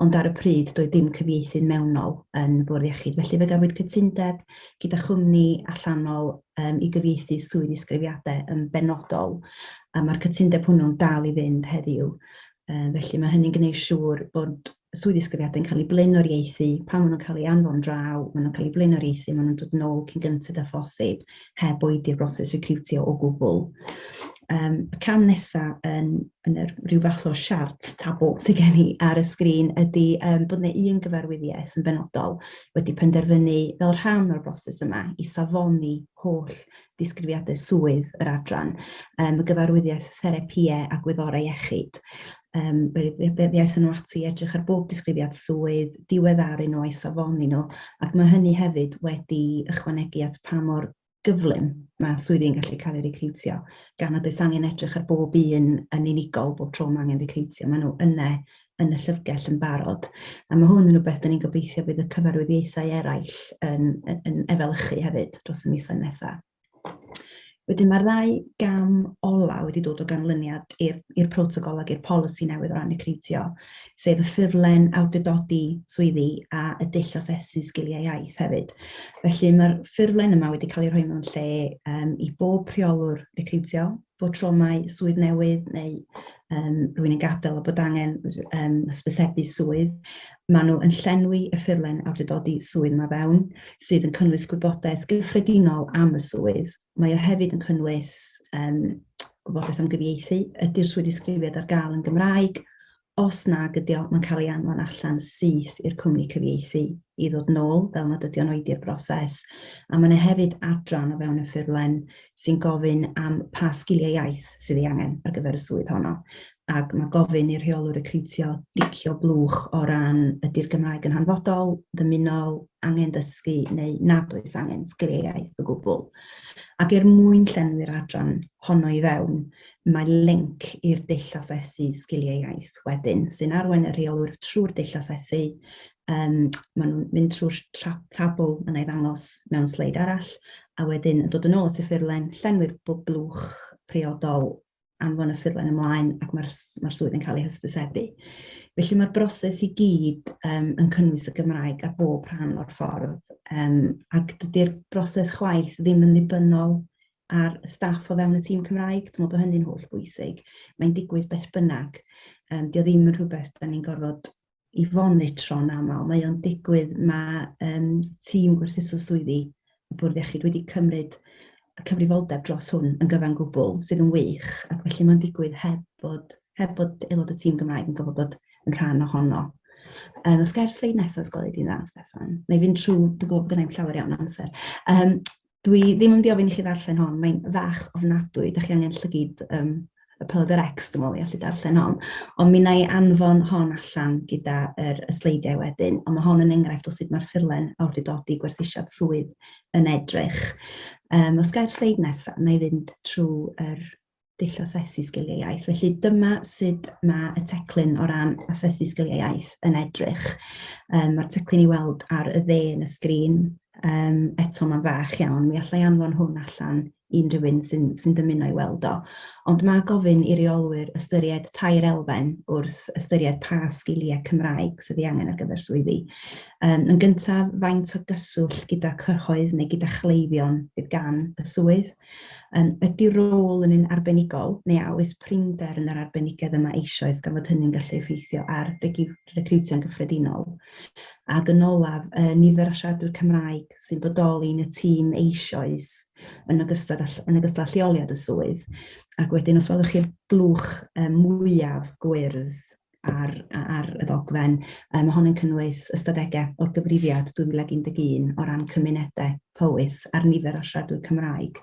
E: ond ar y pryd doedd dim cyfieithydd mewnol yn Bwrdd Iechyd, felly fe gafwyd cytundeb gyda chwmni allanol um, i gyfieithu swydd isgrifiadau yn benodol, a mae'r cytundeb hwnnw'n dal i fynd heddiw. Um, felly mae hynny'n gwneud siŵr bod swydd isgrifiadau'n cael ei blaenoriaethu, pan maen nhw'n cael ei anfon draw, maen nhw'n cael ei blaenoriaethu, maen nhw'n dod nôl cyn gyntaf â phosib, heb oedi y broses recriwtio o gwbl. Um, y cam nesaf yn, yn yr, rhyw fath o siart tabl sydd gen i ar y sgrin ydy um, bod yna un gyfarwyddiaeth yn benodol wedi penderfynu fel rhan o'r broses yma i safoni holl disgrifiadau swydd yr adran, um, y gyfarwyddiaeth therapïau a gwyddorau iechyd. um, iaith nhw ati i edrych ar bob disgrifiad swydd, diweddaru nhw a'i safoni nhw, ac mae hynny hefyd wedi ychwanegu at pa mor gyflym mae swyddi'n gallu cael ei recriwtio, gan nad oes angen edrych ar bob un yn unigol bob tro mae angen recriwtio, maen nhw yna yn y llyfrgell yn barod. A mae hwn yn rhywbeth dyn ni'n gobeithio bydd y cyfarwyddiaethau eraill yn, yn, yn efelychu hefyd dros y misoedd nesaf. Wedyn mae'r ddau gam ola wedi dod o ganlyniad i'r protocol ac i'r polisi newydd o ran recriwtio, sef y ffurflen awdurdodi swyddi a y dull asesu sgiliau iaith hefyd. Felly mae'r ffurflen yma wedi cael ei rhoi mewn lle um, i bob rheolwr recriwtio bod tro mai swydd newydd neu um, rwy'n yn gadael a bod angen um, hysbysebu swydd, maen nhw yn llenwi y ffurlen awdurdodi swydd yma fewn, sydd yn cynnwys gwybodaeth gyffredinol am y swydd. Mae o hefyd yn cynnwys um, gwybodaeth am gyfieithu, ydy'r swydd disgrifiad ar gael yn Gymraeg, Os nag ydy o, mae'n cael ei anfon allan syth i'r cwmni cyfieithu i ddod nôl fel nad ydy o'n oedi'r broses, a mae yna hefyd adran o fewn y ffurflen sy'n gofyn am pa sgiliau iaith sydd ei angen ar gyfer y swydd honno, ac mae gofyn i'r rheolwr recriwtio dicio blwch o ran ydy'r Gymraeg yn hanfodol, ddymunol, angen dysgu neu nad oes angen sgiliau iaith o gwbl. Ac er mwyn llenwi'r adran honno i fewn, Mae linc i'r dull asesu sgiliau iaith wedyn, sy'n arwain y rheolwr trwy'r dull asesu. Um, maen nhw'n mynd trwy'r tabl yna i ddangos mewn sleid arall, a wedyn yn dod yn ôl at y ffurlen, llenwi'r blwch priodol anfon y ffurlen ymlaen ac mae'r mae swydd yn cael ei hysbysebu. Felly mae'r broses i gyd um, yn cynnwys y Gymraeg ar bob rhan o'r ffordd um, ac dydy'r broses chwaith ddim yn ddibynnol a'r staff o fewn y tîm Cymraeg, dwi'n meddwl bod hynny'n holl bwysig. Mae'n digwydd beth bynnag. Um, Dio ddim yn rhywbeth da ni'n gorfod i fonitro'n aml. Mae o'n digwydd, mae um, tîm gwerthuso swyddi y Bwrdd Iechyd wedi cymryd y cyfrifoldeb dros hwn yn gyfan gwbl, sydd yn wych, ac felly mae'n digwydd heb bod, heb bod aelod y tîm Gymraeg yn gofod bod yn rhan ohono. Um, os gair sleid nesaf, os gweled i'n dda, Stefan. Neu fynd trwy, dwi'n gwybod bod gennau'n llawer iawn amser. Um, Dwi ddim yn mynd i ofyn i chi ddarllen hon, mae'n fach ofnadwy, da chi angen llygyd um, y Pelder X, dwi'n meddwl, i allu darllen hon. Ond mi na i anfon hon allan gyda yr, y sleidiau wedyn, ond mae hon yn enghraifft o sut mae'r ffurlen awdurdodi gwerthusiad swydd yn edrych. Um, os gael sleid nesaf, na i fynd trwy yr dull asesu sgiliau iaith. Felly dyma sut mae y teclyn o ran asesu sgiliau iaith yn edrych. Um, Mae'r teclyn i weld ar y dde yn y sgrin. Um, eto mae'n fach iawn, mi allai anfon hwn allan unrhyw un sy'n sy dymuno i weld o. Ond mae gofyn i reolwyr ystyried tair elfen wrth ystyried pa sgiliau Cymraeg sydd ei angen ar gyfer swyddi. Um, yn gyntaf, faint o gyswllt gyda cyhoedd neu gyda chleifion bydd gan y swydd. Yym, ydy rôl yn un arbenigol, neu a oes prinder yn yr arbenigedd yma eisoes gan fod hynny'n gallu effeithio ar recriwtio'n gyffredinol? Ac yn olaf, y nifer o siaradwyr Cymraeg sy'n bodoli yn y tîm eisoes yn ogystal â, yn ogystal â lleoliad y swydd. Ac wedyn, os welwch chi'r blwch mwyaf gwyrdd, ar, ar y ddogfen. Um, hon yn cynnwys ystadegau o'r gyfrifiad 2011 o ran cymunedau Powys a'r nifer o siaradwyr Cymraeg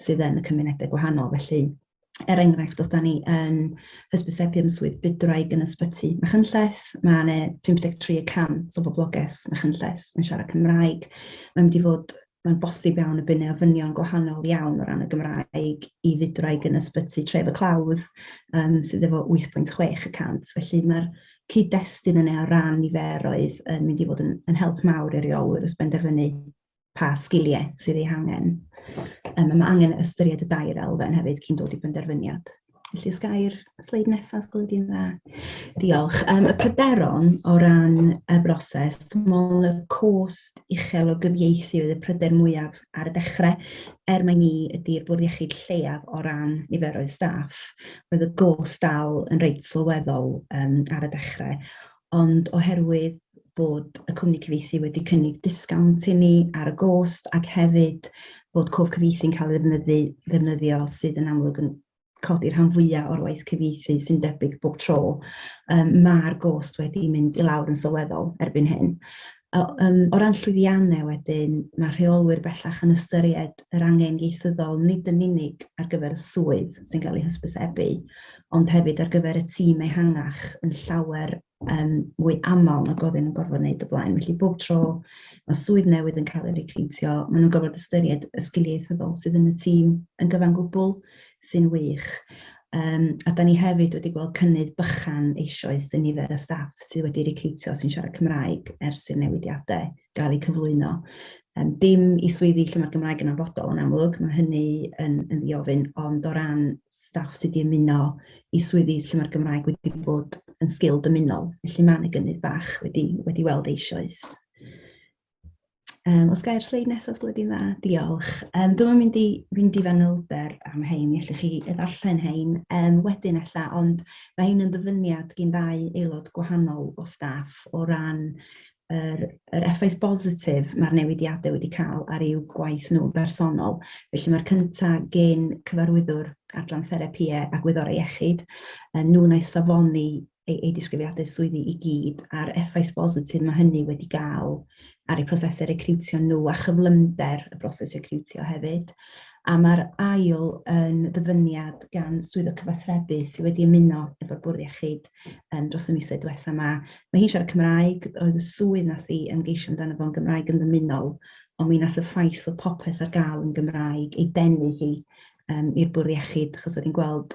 E: sydd yn y cymunedau gwahanol. Felly, er enghraifft, os da ni yn hysbysebu am swydd bydwraig yn ysbyty Machynlleth, mae yna 53 y 100 o boblogaeth Machynlleth yn siarad Cymraeg. Mae'n mynd i fod mae'n bosib iawn y bydd ofynion gwahanol iawn o ran y Gymraeg i fudraig yn ysbyty Tref y Clawdd, um, sydd efo 8.6 y cant. Felly mae'r cyd-destun yna o ran niferoedd yn mynd i fod yn, yn help mawr i reolwyr wrth benderfynu pa sgiliau sydd ei hangen. Um, mae angen ystyried y dair elfen hefyd cyn dod i benderfyniad. Felly, os gair sleid nesaf, os gwelwch dda. Diolch. Um, y pryderon o ran y broses, dwi'n meddwl y cost uchel o gyfieithu oedd y pryder mwyaf ar y dechrau, er mae ni ydy'r bwrdd iechyd lleiaf o ran niferoedd staff. Roedd y gost dal yn reit sylweddol um, ar y dechrau. ond oherwydd bod y cwmni cyfieithu wedi cynnig disgawnt i ni ar y gost ac hefyd bod cof cyfieithu'n cael ei ddefnyddi, ddefnyddio sydd yn amlwg yn codi rhan fwyaf o'r waith cyfieithu sy'n debyg bob tro, um, mae'r gost wedi mynd i lawr yn sylweddol erbyn hyn. Yym, o ran llwyddiannau wedyn, mae rheolwyr bellach yn ystyried yr angen ieithyddol nid yn unig ar gyfer y swydd sy'n cael ei hysbysebu, ond hefyd ar gyfer y tîm ehangach yn llawer um, mwy aml nag oedd yn gorfod wneud y blaen. Felly bob tro mae swydd newydd yn cael ei recriwtio, maen nhw'n gorfod ystyried y sgiliau ieithyddol sydd yn y tîm yn gyfan gwbl, sy'n wych. Um, a da ni hefyd wedi gweld cynnydd bychan eisoes yn nifer y staff sydd wedi recriwtio sy'n siarad Cymraeg ers i'r newidiadau gael eu cyflwyno. Um, dim i swyddi lle mae'r Gymraeg yn anfodol yn amlwg, mae hynny yn, yn ddiofyn, ond o ran staff sydd wedi ymuno i swyddi lle mae'r Gymraeg wedi bod yn sgil dymunol, felly mae'n y gynnydd bach wedi, wedi weld eisoes. Um, os gair sleid nesaf, sleid i'n dda, diolch. Um, Dwi'n mynd i fynd i fanylder am hein, mi allwch chi ddarllen hein um, wedyn ella, ond mae hein yn ddyfyniad gyn ddau aelod gwahanol o staff o ran yr, yr effaith bositif mae'r newidiadau wedi cael ar eu gwaith nhw bersonol. Felly mae'r cyntaf gen cyfarwyddwr adran therapiau a gwyddorau iechyd, um, nhw'n ei safoni ei, ei disgrifiadau swyddi i gyd a'r effaith bositif mae hynny wedi gael ar eu prosesau recriwtio nhw a chyflymder y broses recriwtio hefyd. A mae'r ail yn ddyfyniad gan swyddo cyfathrebu sydd wedi ymuno efo'r bwrdd iechyd um, dros y misoedd diwetha yma. Mae hi'n siarad Cymraeg, oedd y swydd nath i ymgeisio amdano fo'n Gymraeg yn ddymunol, ond mi nath y ffaith fod popeth ar gael yn Gymraeg ei denu hi um, i'r bwrdd iechyd, achos oedd hi'n gweld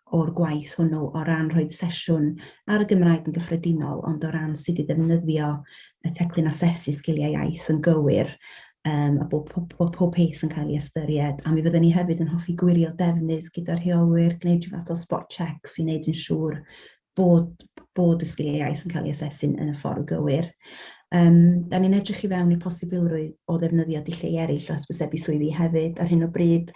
E: o'r gwaith hwnnw o ran rhoi sesiwn ar y Gymraeg yn gyffredinol, ond o ran sut i ddefnyddio y teclyn asesu sgiliau iaith yn gywir, um, a bod pob, bod pob peth yn cael ei ystyried. A mi fydden ni hefyd yn hoffi gwirio defnydd gyda rheolwyr, gwneud rhyw fath o spot checks i wneud yn siŵr bod, bod y sgiliau iaith yn cael ei asesu'n yn y ffordd gywir. Um, da ni'n edrych i fewn i'r posibilrwydd o ddefnyddio dulliau eraill o hysbysebu swyddi hefyd. Ar hyn o bryd,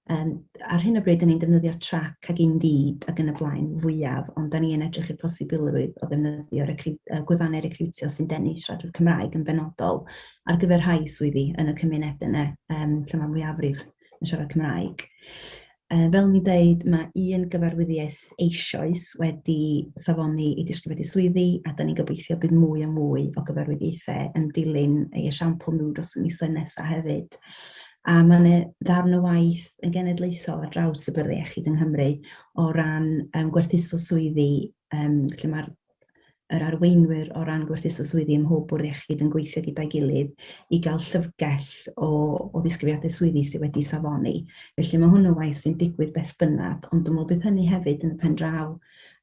E: Yym, ar hyn o bryd, 'dan ni'n defnyddio Trac ac Indeed ac yn y blaen fwyaf, ond 'dan ni yn edrych i'r posibilrwydd o ddefnyddio recru- yy gwefannau recriwtio sy'n denu siaradwyr Cymraeg yn benodol ar gyfer rhai swyddi yn y cymunedau 'na yym lle ma'r mwyafrif yn siarad Cymraeg. Yy fel o'n i'n deud, ma' un gyfarwyddiaeth eisoes wedi safoni i disgrifiedig swyddi, a 'dan ni'n gobeithio bydd mwy a mwy o gyfarwyddiaethau yn dilyn ei esiampl nhw dros y misoedd nesa' hefyd. A mae yna ddarn o waith yn genedlaethol ar draws y byrddau iechyd yng Nghymru o ran um, gwerthuso swyddi, um, lle mae'r yr arweinwyr o ran gwerthuso swyddi ym mhob bwrdd iechyd yn gweithio gyda'i gilydd i gael llyfrgell o, o ddisgrifiadau swyddi sydd wedi safoni. Felly mae hwnnw waith sy'n digwydd beth bynnag, ond dwi'n meddwl bydd hynny hefyd yn y pen draw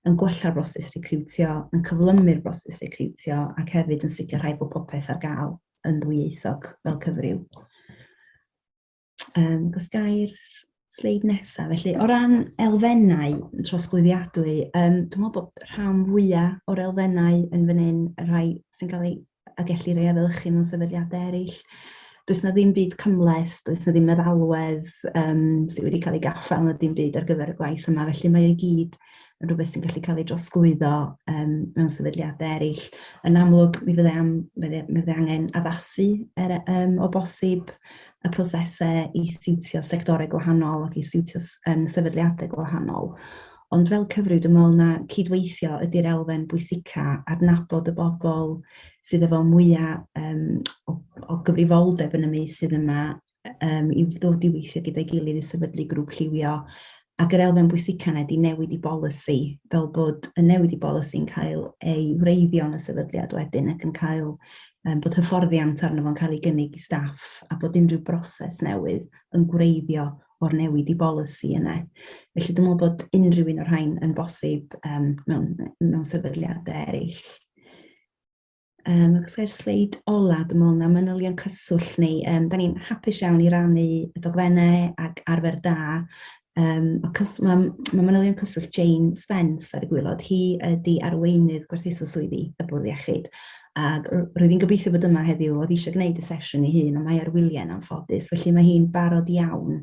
E: yn gwella'r broses recriwtio, yn cyflymu'r broses recriwtio ac hefyd yn sicrhau bod popeth ar gael. yn ddwyieithog fel cyfryw. Um, os gair sleid nesaf, felly o ran elfennau trosglwyddiadwy, um, dwi'n meddwl bod rhan fwyaf o'r elfennau yn fan hyn, y rhai sy'n cael ei a gellir ei efelychu mewn sefydliadau eraill. Does na ddim byd cymleth, does na ddim meddalwedd um, sydd wedi cael ei gaffael na dim byd ar gyfer y gwaith yma, felly mae ei gyd yn rhywbeth sy'n gallu cael ei drosglwyddo um, mewn sefydliadau eraill. Yn amlwg, mi fydde, am, mi fydde angen addasu er, um, o bosib y prosesau i siwtio sectorau gwahanol ac i siwtio um, sefydliadau gwahanol. Ond fel cyfrif, dwi'n meddwl na cydweithio ydy'r elfen bwysica, adnabod y bobl sydd efo mwyaf um, o, o gyfrifoldeb yn y meysydd yma, um, i ddod i weithio gyda'i gilydd i sefydlu grŵp lliwio ac yr elfen bwysican ydy newid i bolisi fel bod y newid i bolisi'n cael ei wreiddio yn y sefydliad wedyn ac yn cael um, bod hyfforddiant arno fo'n cael ei gynnig i staff a bod unrhyw broses newydd yn gwreiddio o'r newid i bolisi yna. Felly dwi'n meddwl bod unrhyw un o'r rhain yn bosib um, mewn, mewn sefydliadau eraill. Um, ac os gael sleid ola, dwi'n meddwl na manylion cyswllt ni. Um, da ni'n hapus iawn i rannu y dogfennau ac arfer da. Um, mae ma manylion cyswllt Jane Spence ar y gwylod. Hi ydy arweinydd gwerthuso swyddi y bwrdd iechyd. Ac roedd hi'n gobeithio bod yma heddiw, oedd eisiau gwneud y sesiwn ei hun, ond mae ar wyliau'n anffodus. Felly mae hi'n barod iawn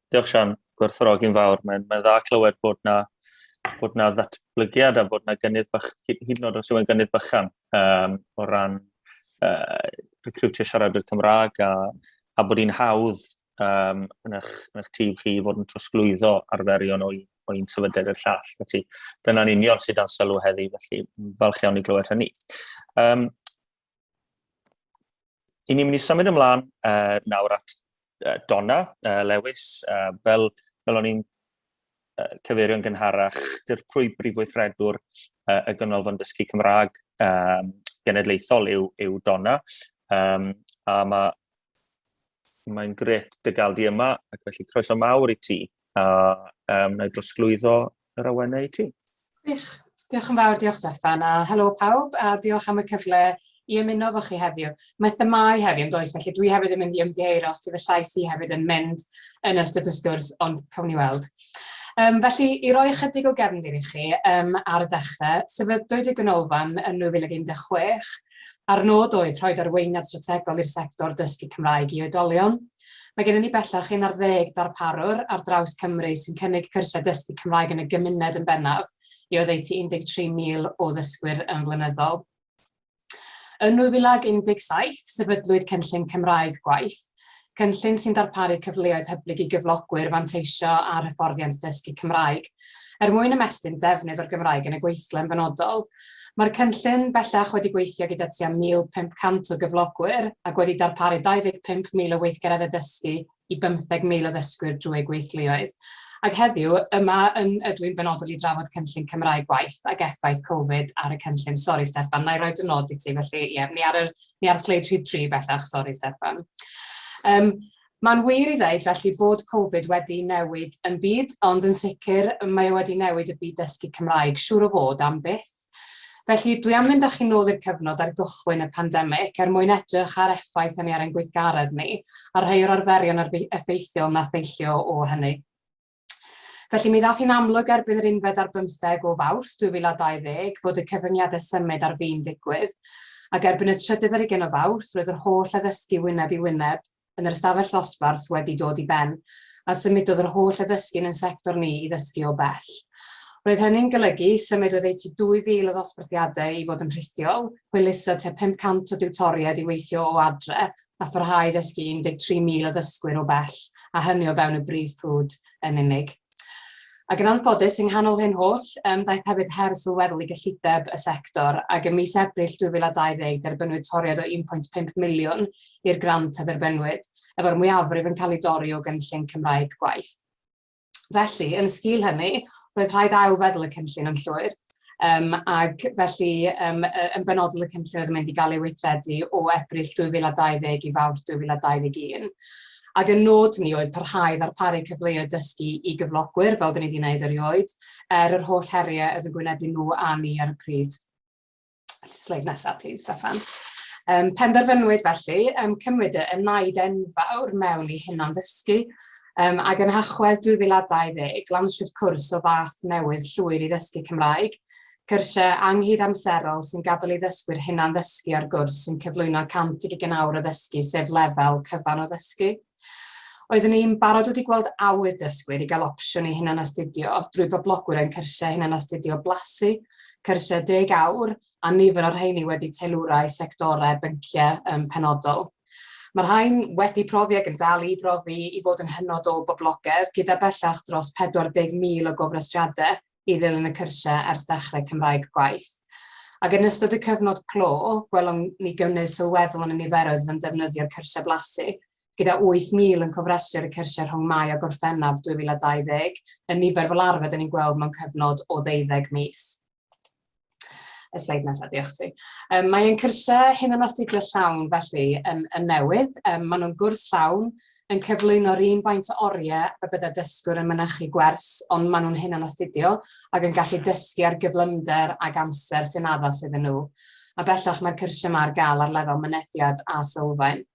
A: Diolch Sian, gwerthfawrogi'n fawr. Mae'n mae dda clywed bod na, bod na ddatblygiad a bod na gynnydd bach, hyd yn oed os yw'n gynnydd bychan um, o ran uh, recrwtio siaradwyr Cymraeg a, a bod hi'n hawdd um, yn, eich, yn eich tîm chi fod yn trosglwyddo arferion o, o un sefydliad i'r llall. Felly, dyna'n union sydd dan sylw heddi, felly falch iawn i glywed hynny. Um, I ni'n mynd i symud ymlaen uh, nawr at uh, Donna uh, Lewis. Uh, fel, fel o'n i'n uh, cyfeirio'n gynharach, dirprwy brif weithredwr uh, y Gynolfan Dysgu Cymraeg um, genedlaethol yw, yw Donna. Um, a mae mae'n gret dy gael di yma, ac felly croeso mawr i ti. A um, na i drosglwyddo yr awenau i ti. Gwych.
F: Diolch yn fawr, diolch Stefan, a helo pawb, a diolch am y cyfle i ymuno fo chi heddiw. Mae themau heddiw yn does, felly dwi hefyd yn mynd i ymddiheuro os dyw y llais i hefyd yn mynd yn ystod y sgwrs, ond cawn ni weld. Um, felly, i roi ychydig o gefndir i chi um, ar y dechrau, sefydlwyd y Gynolfan yn 2016 a'r nod oedd rhoi arweiniad strategol i'r sector dysgu Cymraeg i oedolion, Mae gennym ni bellach un ar ddeg darparwr ar draws Cymru sy'n cynnig cyrsiau dysgu Cymraeg yn y gymuned yn bennaf i oddeutu 13,000 o ddysgwyr yn flynyddol. Yn 2017, sefydlwyd Cynllun Cymraeg Gwaith, cynllun sy'n darparu cyfleoedd hyblyg i gyflogwyr fanteisio ar hyfforddiant dysgu Cymraeg. Er mwyn ymestyn defnydd o'r Gymraeg yn y gweithle yn benodol, Mae'r cynllun bellach wedi gweithio gyda tua 1,500 o gyflogwyr ac wedi darparu 25,000 o weithgareddau addysgu i 15,000 o ddysgwyr drwy eu gweithluoedd. Ac heddiw, yma yn ydw i'n benodol i drafod cynllun Cymraeg Gwaith ac effaith Covid ar y cynllun. Sori Steffan, wna i roi dy nod i ti, felly ie, ni ar y, ni ar sleid rhif tri bellach, sori Steffan. Um, Mae'n wir i ddeud felly bod Covid wedi newid yn byd, ond yn sicr mae e wedi newid y byd dysgu Cymraeg, siŵr o fod, am byth. Felly, dwi am fynd â chi nôl i'r cyfnod ar gychwyn y pandemig, er mwyn edrych ar effaith hynny ar ein gweithgaredd ni, a rhai o'r arferion effeithiol na theillio o hynny. Felly, mi ddaeth hi'n amlwg erbyn yr unfed ar 15 o Fawrth 2020 fod y cyfyngiadau symud ar fin digwydd, ac erbyn y trydydd ar ugain o Fawrth roedd yr holl addysgu wyneb i wyneb yn yr ystafell ddosbarth wedi dod i ben, a symudodd yr holl addysgu yn ein sector ni i ddysgu o bell. Roedd hynny'n golygu symud oddeutu 2,000 o ddosbarthiadau i fod yn rhithiol, hwyluso tua 500 o diwtoriaid i weithio o adre, a pharhau i ddysgu 13,000 o ddysgwyr o bell, a hynny o fewn y brif ffrwd yn unig. Ac yn anffodus, yng nghanol hyn holl, yym, daeth hefyd her sylweddol i gyllideb y sector, ac ym mis Ebrill 2020 derbyniwyd toriad o 1.5 miliwn i'r grant a dderbyniwyd, efo'r mwyafrif yn cael ei dorri o gynllun Cymraeg Gwaith. Felly, yn sgil hynny, roedd rhaid ail-feddwl y cynllun yn llwyr, um, ac felly um, yn benodol y cynllun oedd yn mynd i gael ei weithredu o Ebrill 2020 i fawr 2021. Ac y nod ni oedd parhau ddarparu cyfleoedd dysgu i gyflogwyr, fel dyn ni wedi gwneud erioed, er yr holl heriau oedd yn gwynebu nhw a ni ar y pryd. Sleid nesaf, please, Stefan. Um, penderfynwyd felly um, cymryd y naid enfawr mewn i hunan ddysgu, um, ac yn hachwedd 2020, lansiwyd cwrs o fath newydd llwyr i ddysgu Cymraeg, cyrsiau anghyd amserol sy'n gadael i ddysgwyr hunan ddysgu ar gwrs sy'n cyflwyno 100 i gynawr o ddysgu, sef lefel cyfan o ddysgu. Oeddwn ni'n barod wedi gweld awydd dysgwyr i gael opsiwn i hunanastudio drwy boblogwyr ein cyrsiau hunanastudio blasu, cyrsiau deg awr, a nifer o'r rheiny wedi teilwra i sectorau, bynciau, um, penodol. Mae'r rhain wedi profi ac yn dal i brofi i fod yn hynod o boblogaidd, gyda bellach dros 40,000 o gofrestriadau i ddilyn y cyrsiau ers dechrau Cymraeg Gwaith, ac yn ystod y cyfnod clo, gwelwn ni gynnydd sylweddol yn y niferoedd oedd yn defnyddio'r cyrsiau blasu, gyda 8,000 yn cofrestru ar y cyrsiau rhwng Mai a Gorffennaf 2020, yn nifer fel arfer 'da ni'n gweld mewn cyfnod o ddeuddeg mis. y sleid nesaf, diolch ti. Um, mae ein cyrsiau hyn yn astudio llawn felly yn, yn newydd. Um, maen nhw'n gwrs llawn yn cyflwyno'r un faint o oriau y bydde dysgwr yn mynychu gwers, ond maen nhw'n hyn yn astudio ac yn gallu dysgu ar gyflymder ag amser sy'n addas iddyn nhw. A bellach mae'r cyrsiau yma ar gael ar lefel mynediad a sylfaen.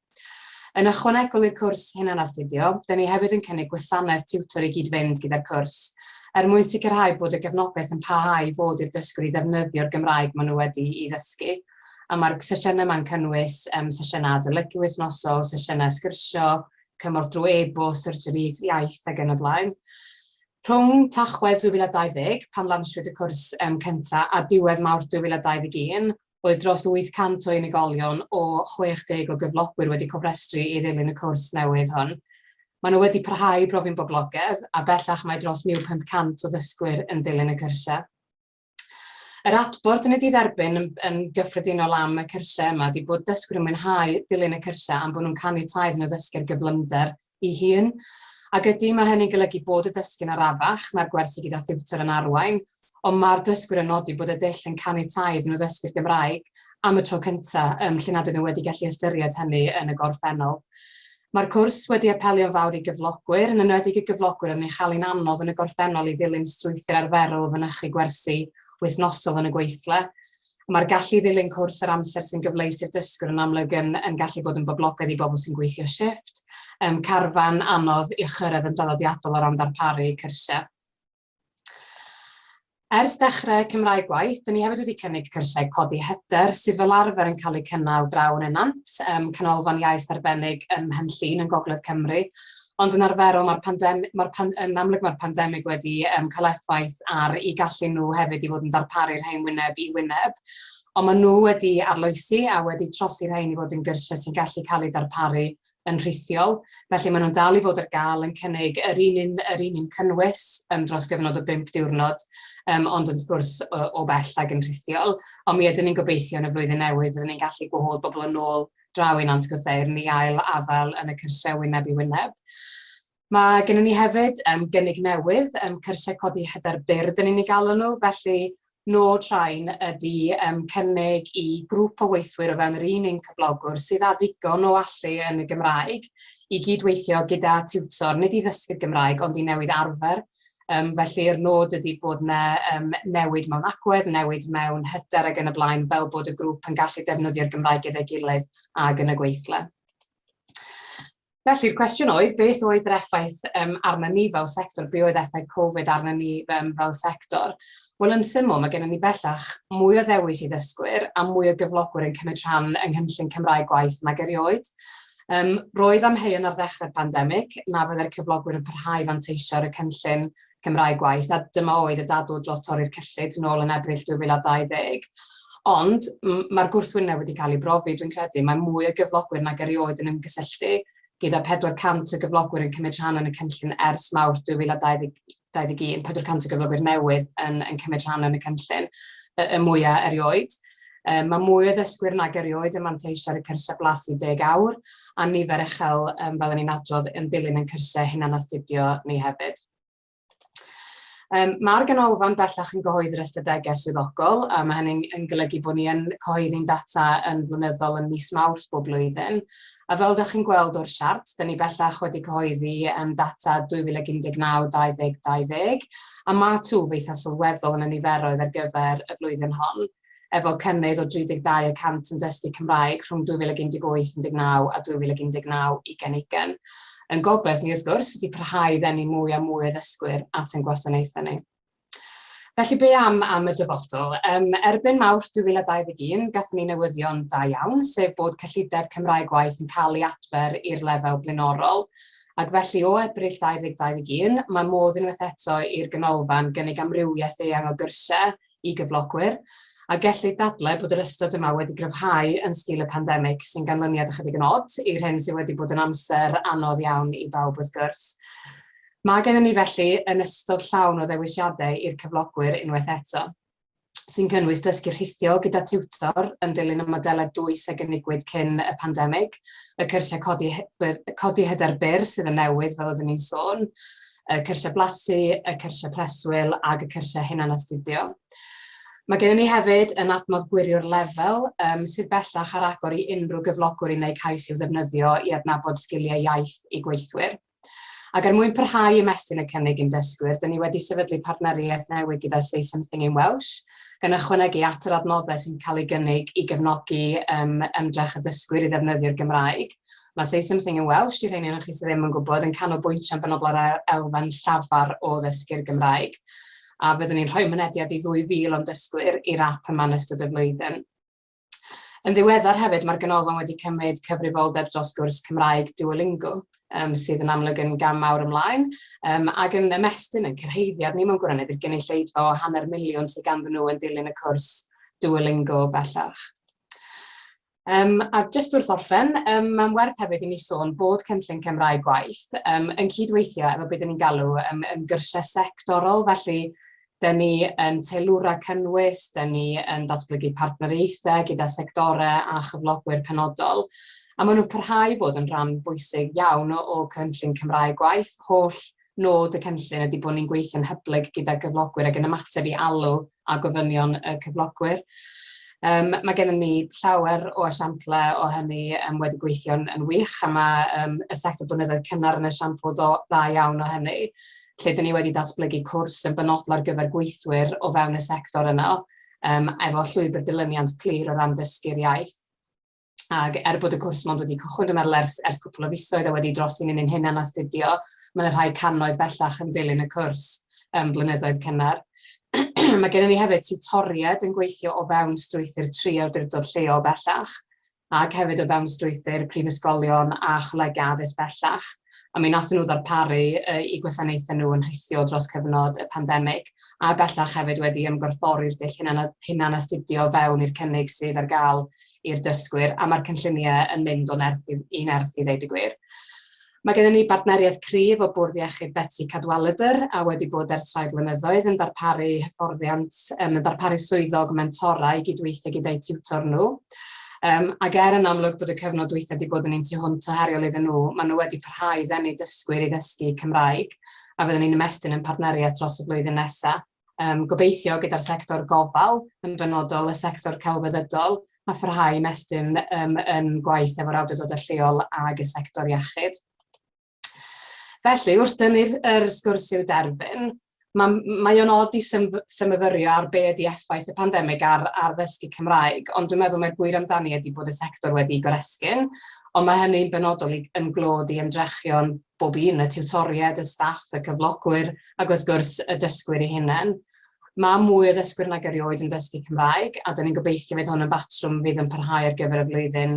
F: Yn ychwanegol i'r cwrs hunanastudio, dŷn ni hefyd yn cynnig gwasanaeth tiwtor i gyd-fynd gyda'r cwrs, er mwyn sicrhau bod y gefnogaeth yn parhau i fod i'r dysgwr i ddefnyddio'r Gymraeg maen nhw wedi'i ddysgu. A mae'r sesiynau yma'n cynnwys yym sesiynau adolygu wythnosol, sesiynau sgyrsio, cymorth drwy e-bost, syrjeriaeth iaith ac yn y blaen. Rhwng Tachwedd 2020, pan lansiwyd y cwrs um, cyntaf, a diwedd Mawrth 2021, Roedd dros 800 o unigolion o 60 o gyflogwyr wedi cofrestru i ddilyn y cwrs newydd hwn. Maen nhw wedi parhau i brofi'n boblogaidd, a bellach mae dros 1,500 o ddysgwyr yn dilyn y cyrsiau. Yr adborth yn y didderbyn yn, yn gyffredinol am y cyrsiau yma ydy bod dysgwyr yn mwynhau dilyn y cyrsiau am bod nhw'n caniatáu iddyn nhw ddysgu'r gyflymder ei hun. Ac ydy, mae hynny'n golygu bod y dysgu'n arafach, mae'r gwersi gyda thiwtor yn arwain, ond mae'r dysgwyr yn nodi bod y dull yn caniatáu iddyn nhw ddysgu'r Gymraeg am y tro cyntaf, yym, lle nad ydyn nhw wedi gallu ystyried hynny yn y gorffennol. Mae'r cwrs wedi apelio'n fawr i gyflogwyr, yn enwedig y gyflogwyr oedd yn chael hi'n anodd yn y gorffennol i ddilyn strwythur arferol o fynychu gwersi wythnosol yn y gweithle, Mae'r gallu i ddilyn cwrs yr amser sy'n gyfleus i'r dysgwr yn amlwg yn yn gallu bod yn boblogaidd i bobl sy'n gweithio shifft, um, carfan, anodd i'ch chyrraedd yn draddodiadol o ran ddarparu cyrsiau. Ers dechrau Cymraeg Gwaith, dyn ni hefyd wedi cynnig cyrsiau codi hyder sydd fel arfer yn cael eu cynnal draw yn Enant, um, canolfan iaith arbennig ym Mhenllyn yn Gogledd Cymru, Ond yn arferol mae'r pandem- mae'r pan- yn amlwg mae'r pandemig wedi um, cael effaith ar i gallu nhw hefyd i fod yn darparu'r rhain wyneb i wyneb. Ond maen nhw wedi arloesi a wedi trosi'r rhain i fod yn gyrsiau sy'n gallu cael eu darparu yn rhithiol. Felly maen nhw'n dal i fod ar gael yn cynnig yr un un, yr un un cynnwys um, dros gyfnod o 5 diwrnod, um, ond yn sgwrs o, o bell ag yn rhithiol. Ond mi ydyn ni'n gobeithio yn y flwyddyn newydd, byddwn ni'n gallu gwahodd bobl yn ôl draw i Nant Gwrtheyrn i ail afael yn y cyrsiau wyneb i wyneb. Mae gennym ni hefyd um, gynnig newydd, um, cyrsiau codi hyder byrd yn unig alw nhw, felly nôl train ydy um, cynnig i grŵp o weithwyr o fewn yr un un cyflogwr sydd â ddigon o allu yn y Gymraeg i gydweithio gyda tiwtor, nid i ddysgu'r Gymraeg ond i newid arfer Um, felly'r nod ydy bod yna um, newid mewn agwedd, newid mewn hyder ac yn y blaen, fel bod y grŵp yn gallu defnyddio'r Gymraeg gyda'i gilydd ag yn y gweithle. Felly'r cwestiwn oedd, beth oedd yr effaith um, arna ni fel sector, be oedd effaith Covid arna ni um, fel sector? Wel, yn syml, mae gennym ni bellach mwy o ddewis i ddysgwyr a mwy o gyflogwyr yn cymryd rhan yng nghynllun Cymraeg gwaith nag erioed. Yym, roedd amheuon ar ddechrau'r pandemig na fyddai'r cyflogwyr yn parhau i fanteisio ar y cynllun Cymraeg Gwaith, a dyma oedd y dadl dros torri'r cyllid nôl yn Ebrill 2020. Ond, mae'r gwrthwyneb wedi cael ei brofi, dwi'n credu, mae mwy o gyflogwyr nag erioed yn ymgysylltu, gyda 400 o gyflogwyr yn cymryd rhan yn y cynllun ers Mawrth 2020. 2021, 400 o gyflogwyr newydd yn, yn cymryd rhan yn y cynllun, y, y mwyaf erioed. Um, mae mwy o ddysgwyr nag erioed yn manteisio ar y cyrsiau blasu deg awr, a nifer uchel, um, fel ni'n adrodd, yn dilyn yn cyrsiau hunan astudio ni hefyd. Um, Mae'r ganolfan bellach yn gyhoeddi'r ystadegau swyddogol, a mae hynny'n golygu bod ni yn cyhoeddi'n data yn flynyddol yn mis mawrth bob blwyddyn, A fel dach chi'n gweld o'r siart, dyn ni bellach wedi cyhoeddi yym data 2019 2020, a mae twf eitha' sylweddol yn y niferoedd ar gyfer y flwyddyn hon, efo cynnydd o 32 y cant yn dysgu Cymraeg rhwng 2018 19 a 2019 20 ugain. Ein gobaith ni, wrth gwrs, ydi parhau i ddenu mwy a mwy o ddysgwyr at ein gwasanaethau ni. Felly, be am am y dyfodol? Um, erbyn Mawrth 2021, gathen ni newyddion da iawn, sef bod cyllideb Cymraeg Gwaith yn cael ei adfer i'r lefel blaenorol, ac felly o Ebrill 2021, mae modd unwaith eto i'r ganolfan gynnig amrywiaeth eang o gyrsiau i gyflogwyr, a gellid dadlau bod yr ystod yma wedi gryfhau yn sgil y pandemig, sy'n ganlyniad ychydig yn od i'r hyn sydd wedi bod yn amser anodd iawn i bawb wrth gwrs. Mae gennym ni felly yn ystod llawn o ddewisiadau i'r cyflogwyr unwaith eto, sy'n cynnwys dysgu rhithiol gyda tiwtor yn dilyn y modelau dwys a gynigiwyd cyn y pandemig, y cyrsiau codi, codi hyder byr sydd yn newydd fel oeddwn i'n sôn, y cyrsiau blasu, y cyrsiau preswyl ac y cyrsiau hunanastudio. Mae gennym ni hefyd yn adnodd gwirio'r lefel um, sydd bellach ar agor i unrhyw gyflogwr i wneud cais i'w ddefnyddio i adnabod sgiliau iaith i gweithwyr. Ac er mwyn parhau ymestyn y cynnig i'n dysgwyr, dŷn ni wedi sefydlu partneriaeth newydd gyda Say Something in Welsh, gan ychwanegu at yr adnoddau sy'n cael eu gynnig i gefnogi ym, ymdrech y dysgwyr i ddefnyddio'r Gymraeg. Mae Say Something in Welsh, i'r rheiny ohonoch chi sydd ddim yn gwybod, yn canolbwyntio yn benodol ar yr elfen llafar o ddysgu'r Gymraeg, a byddwn ni'n rhoi mynediad i 2,000 o'n dysgwyr i'r ap yma yn ystod y flwyddyn. Yn ddiweddar hefyd, mae'r Ganolfan wedi cymryd cyfrifoldeb dros gwrs Cymraeg Duolingo, um, sydd yn amlwg yn gam mawr ymlaen, um, ac yn ymestyn yn cyrhaeddiad ni mewn gwirionedd i'r gynulleidfa o hanner miliwn sydd ganddyn nhw yn dilyn y cwrs Duolingo bellach. Um, a jyst wrth orffen, um, mae'n werth hefyd i ni sôn bod cynllun Cymraeg gwaith um, yn cydweithio efo beth ni'n galw um, yn gyrsiau sectorol, felly Dyn ni yn teilwra cynnwys, dyn ni yn datblygu partneriaethau gyda sectorau a chyflogwyr penodol, a maen nhw'n parhau i fod yn rhan bwysig iawn o Cynllun Cymraeg Gwaith. Holl nod y cynllun ydy bod ni'n gweithio'n hyblyg gyda gyflogwyr ac yn ymateb i alw a gofynion y cyflogwyr. Yym, mae gennym ni llawer o esiamplau o hynny yym wedi gweithio'n yn wych a mae yym y sector blynyddoedd cynnar yn esiampl ddo- dda iawn o hynny. lle dyn ni wedi datblygu cwrs yn benodol ar gyfer gweithwyr o fewn y sector yno, um, efo llwybr dilyniant clir o ran dysgu'r iaith. Ac er bod y cwrs mond wedi cychwyn, dwi'n meddwl, ers, ers cwpl o fisoedd a wedi dros i ni'n ein hunan astudio, mae yna rhai cannoedd bellach yn dilyn y cwrs um, blynyddoedd cynnar. mae gennym ni hefyd tutoriaid yn gweithio o fewn strwythyr tri awdurdod lleol bellach, ac hefyd o fewn strwythur prifysgolion a cholegau addysg bellach, a mi wnaethon nhw ddarparu eu gwasanaethau nhw yn rhithiol dros cyfnod y pandemig, a bellach hefyd wedi ymgorffori'r dull hunanastudio o fewn i'r cynnig sydd ar gael i'r dysgwyr, a mae'r cynlluniau yn mynd o nerth i nerth i ddeud y gwir. Mae gennym ni bartneriaeth cryf o Bwrdd Iechyd Betsi Cadwaladr, a wedi bod ers rhai blynyddoedd, yn darparu hyfforddiant, yn darparu swyddog mentora i gydweithio gyda'u tiwtor nhw. Ac er yn amlwg bod y cyfnod dwytha 'di bod yn un tu hwnt o heriol iddyn nhw, maen nhw wedi parhau i ddenu dysgwyr i ddysgu Cymraeg, a fyddwn ni'n ymestyn ein partneriaeth dros y flwyddyn nesaf. um, gobeithio gyda'r sector gofal, yn benodol y sector celfyddydol, a pharhau i mestyn um, yn gwaith efo'r awdurdodau lleol ag y sector iechyd. Felly, wrth dynnu'r er sgwrs i'w derfyn, mae, mae o'n od i symfyrio ar be ydi effaith y pandemig ar, ar ddysgu Cymraeg, ond dwi'n meddwl mae'r gwir amdani ydy bod y sector wedi goresgyn, ond mae hynny'n benodol i, yn glod i ymdrechion bob un, y tiwtoriaid, y staff, y cyflogwyr ac wrth gwrs y dysgwyr eu hunain. Mae mwy o ddysgwyr nag erioed yn dysgu Cymraeg a 'da ni'n gobeithio fydd hwn yn batrwm fydd yn parhau ar gyfer y flwyddyn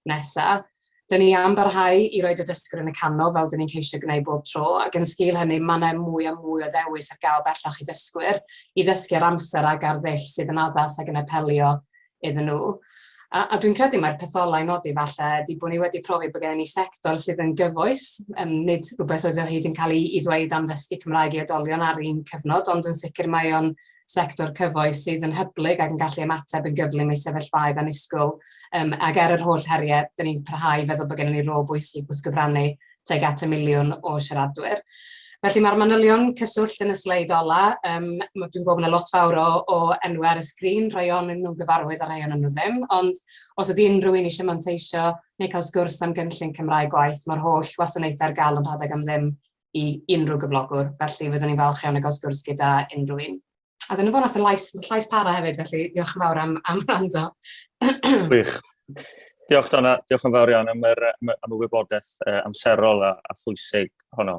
F: nesaf. Da ni am barhau i roid y dysgwr yn y canol fel 'da ni'n ceisio gwneud bob tro ac yn sgil hynny mae 'na mwy a mwy o ddewis ar gael bellach i ddysgwyr i ddysgu ar amser ac ar ddull sydd yn addas ac yn apelio iddyn nhw. A, a dwi'n credu mae'r petholau i nodi falle ydy bod ni wedi profi bod gen ni sector sydd yn gyfoes, um, nid rhywbeth oedd o hyd yn cael ei, ei ddweud am ddysgu Cymraeg i oedolion ar un cyfnod, ond yn sicr mae o'n sector cyfoes sydd yn hyblyg ac yn gallu ymateb yn gyflym i sefyllfaoedd anusgwyl. Um, ac ar er yr holl heriau, dyn ni'n parhau feddwl bod gennym ni rôl bwysig wrth gyfrannu tuag at y miliwn o siaradwyr. Felly mae'r manylion cyswllt yn y sleid ola, um, dwi'n gwybod bod yna lot fawr o, o enwau ar y sgrin, rhai o'n nhw'n gyfarwydd a rhai o'n nhw ddim, ond os ydy unrhyw un eisiau manteisio neu cael sgwrs am gynllun Cymraeg gwaith, mae'r holl wasanaethau ar gael yn rhadeg am ddim i unrhyw gyflogwr, felly fyddwn ni'n falch iawn o gael sgwrs gyda unrhyw un. A dyna fo, nath y llais, llais para hefyd, felly diolch yn fawr am, am rando. Gwych.
A: Diolch Donna, diolch yn fawr iawn am, yr, am y wybodaeth amserol a, a phwysig honno.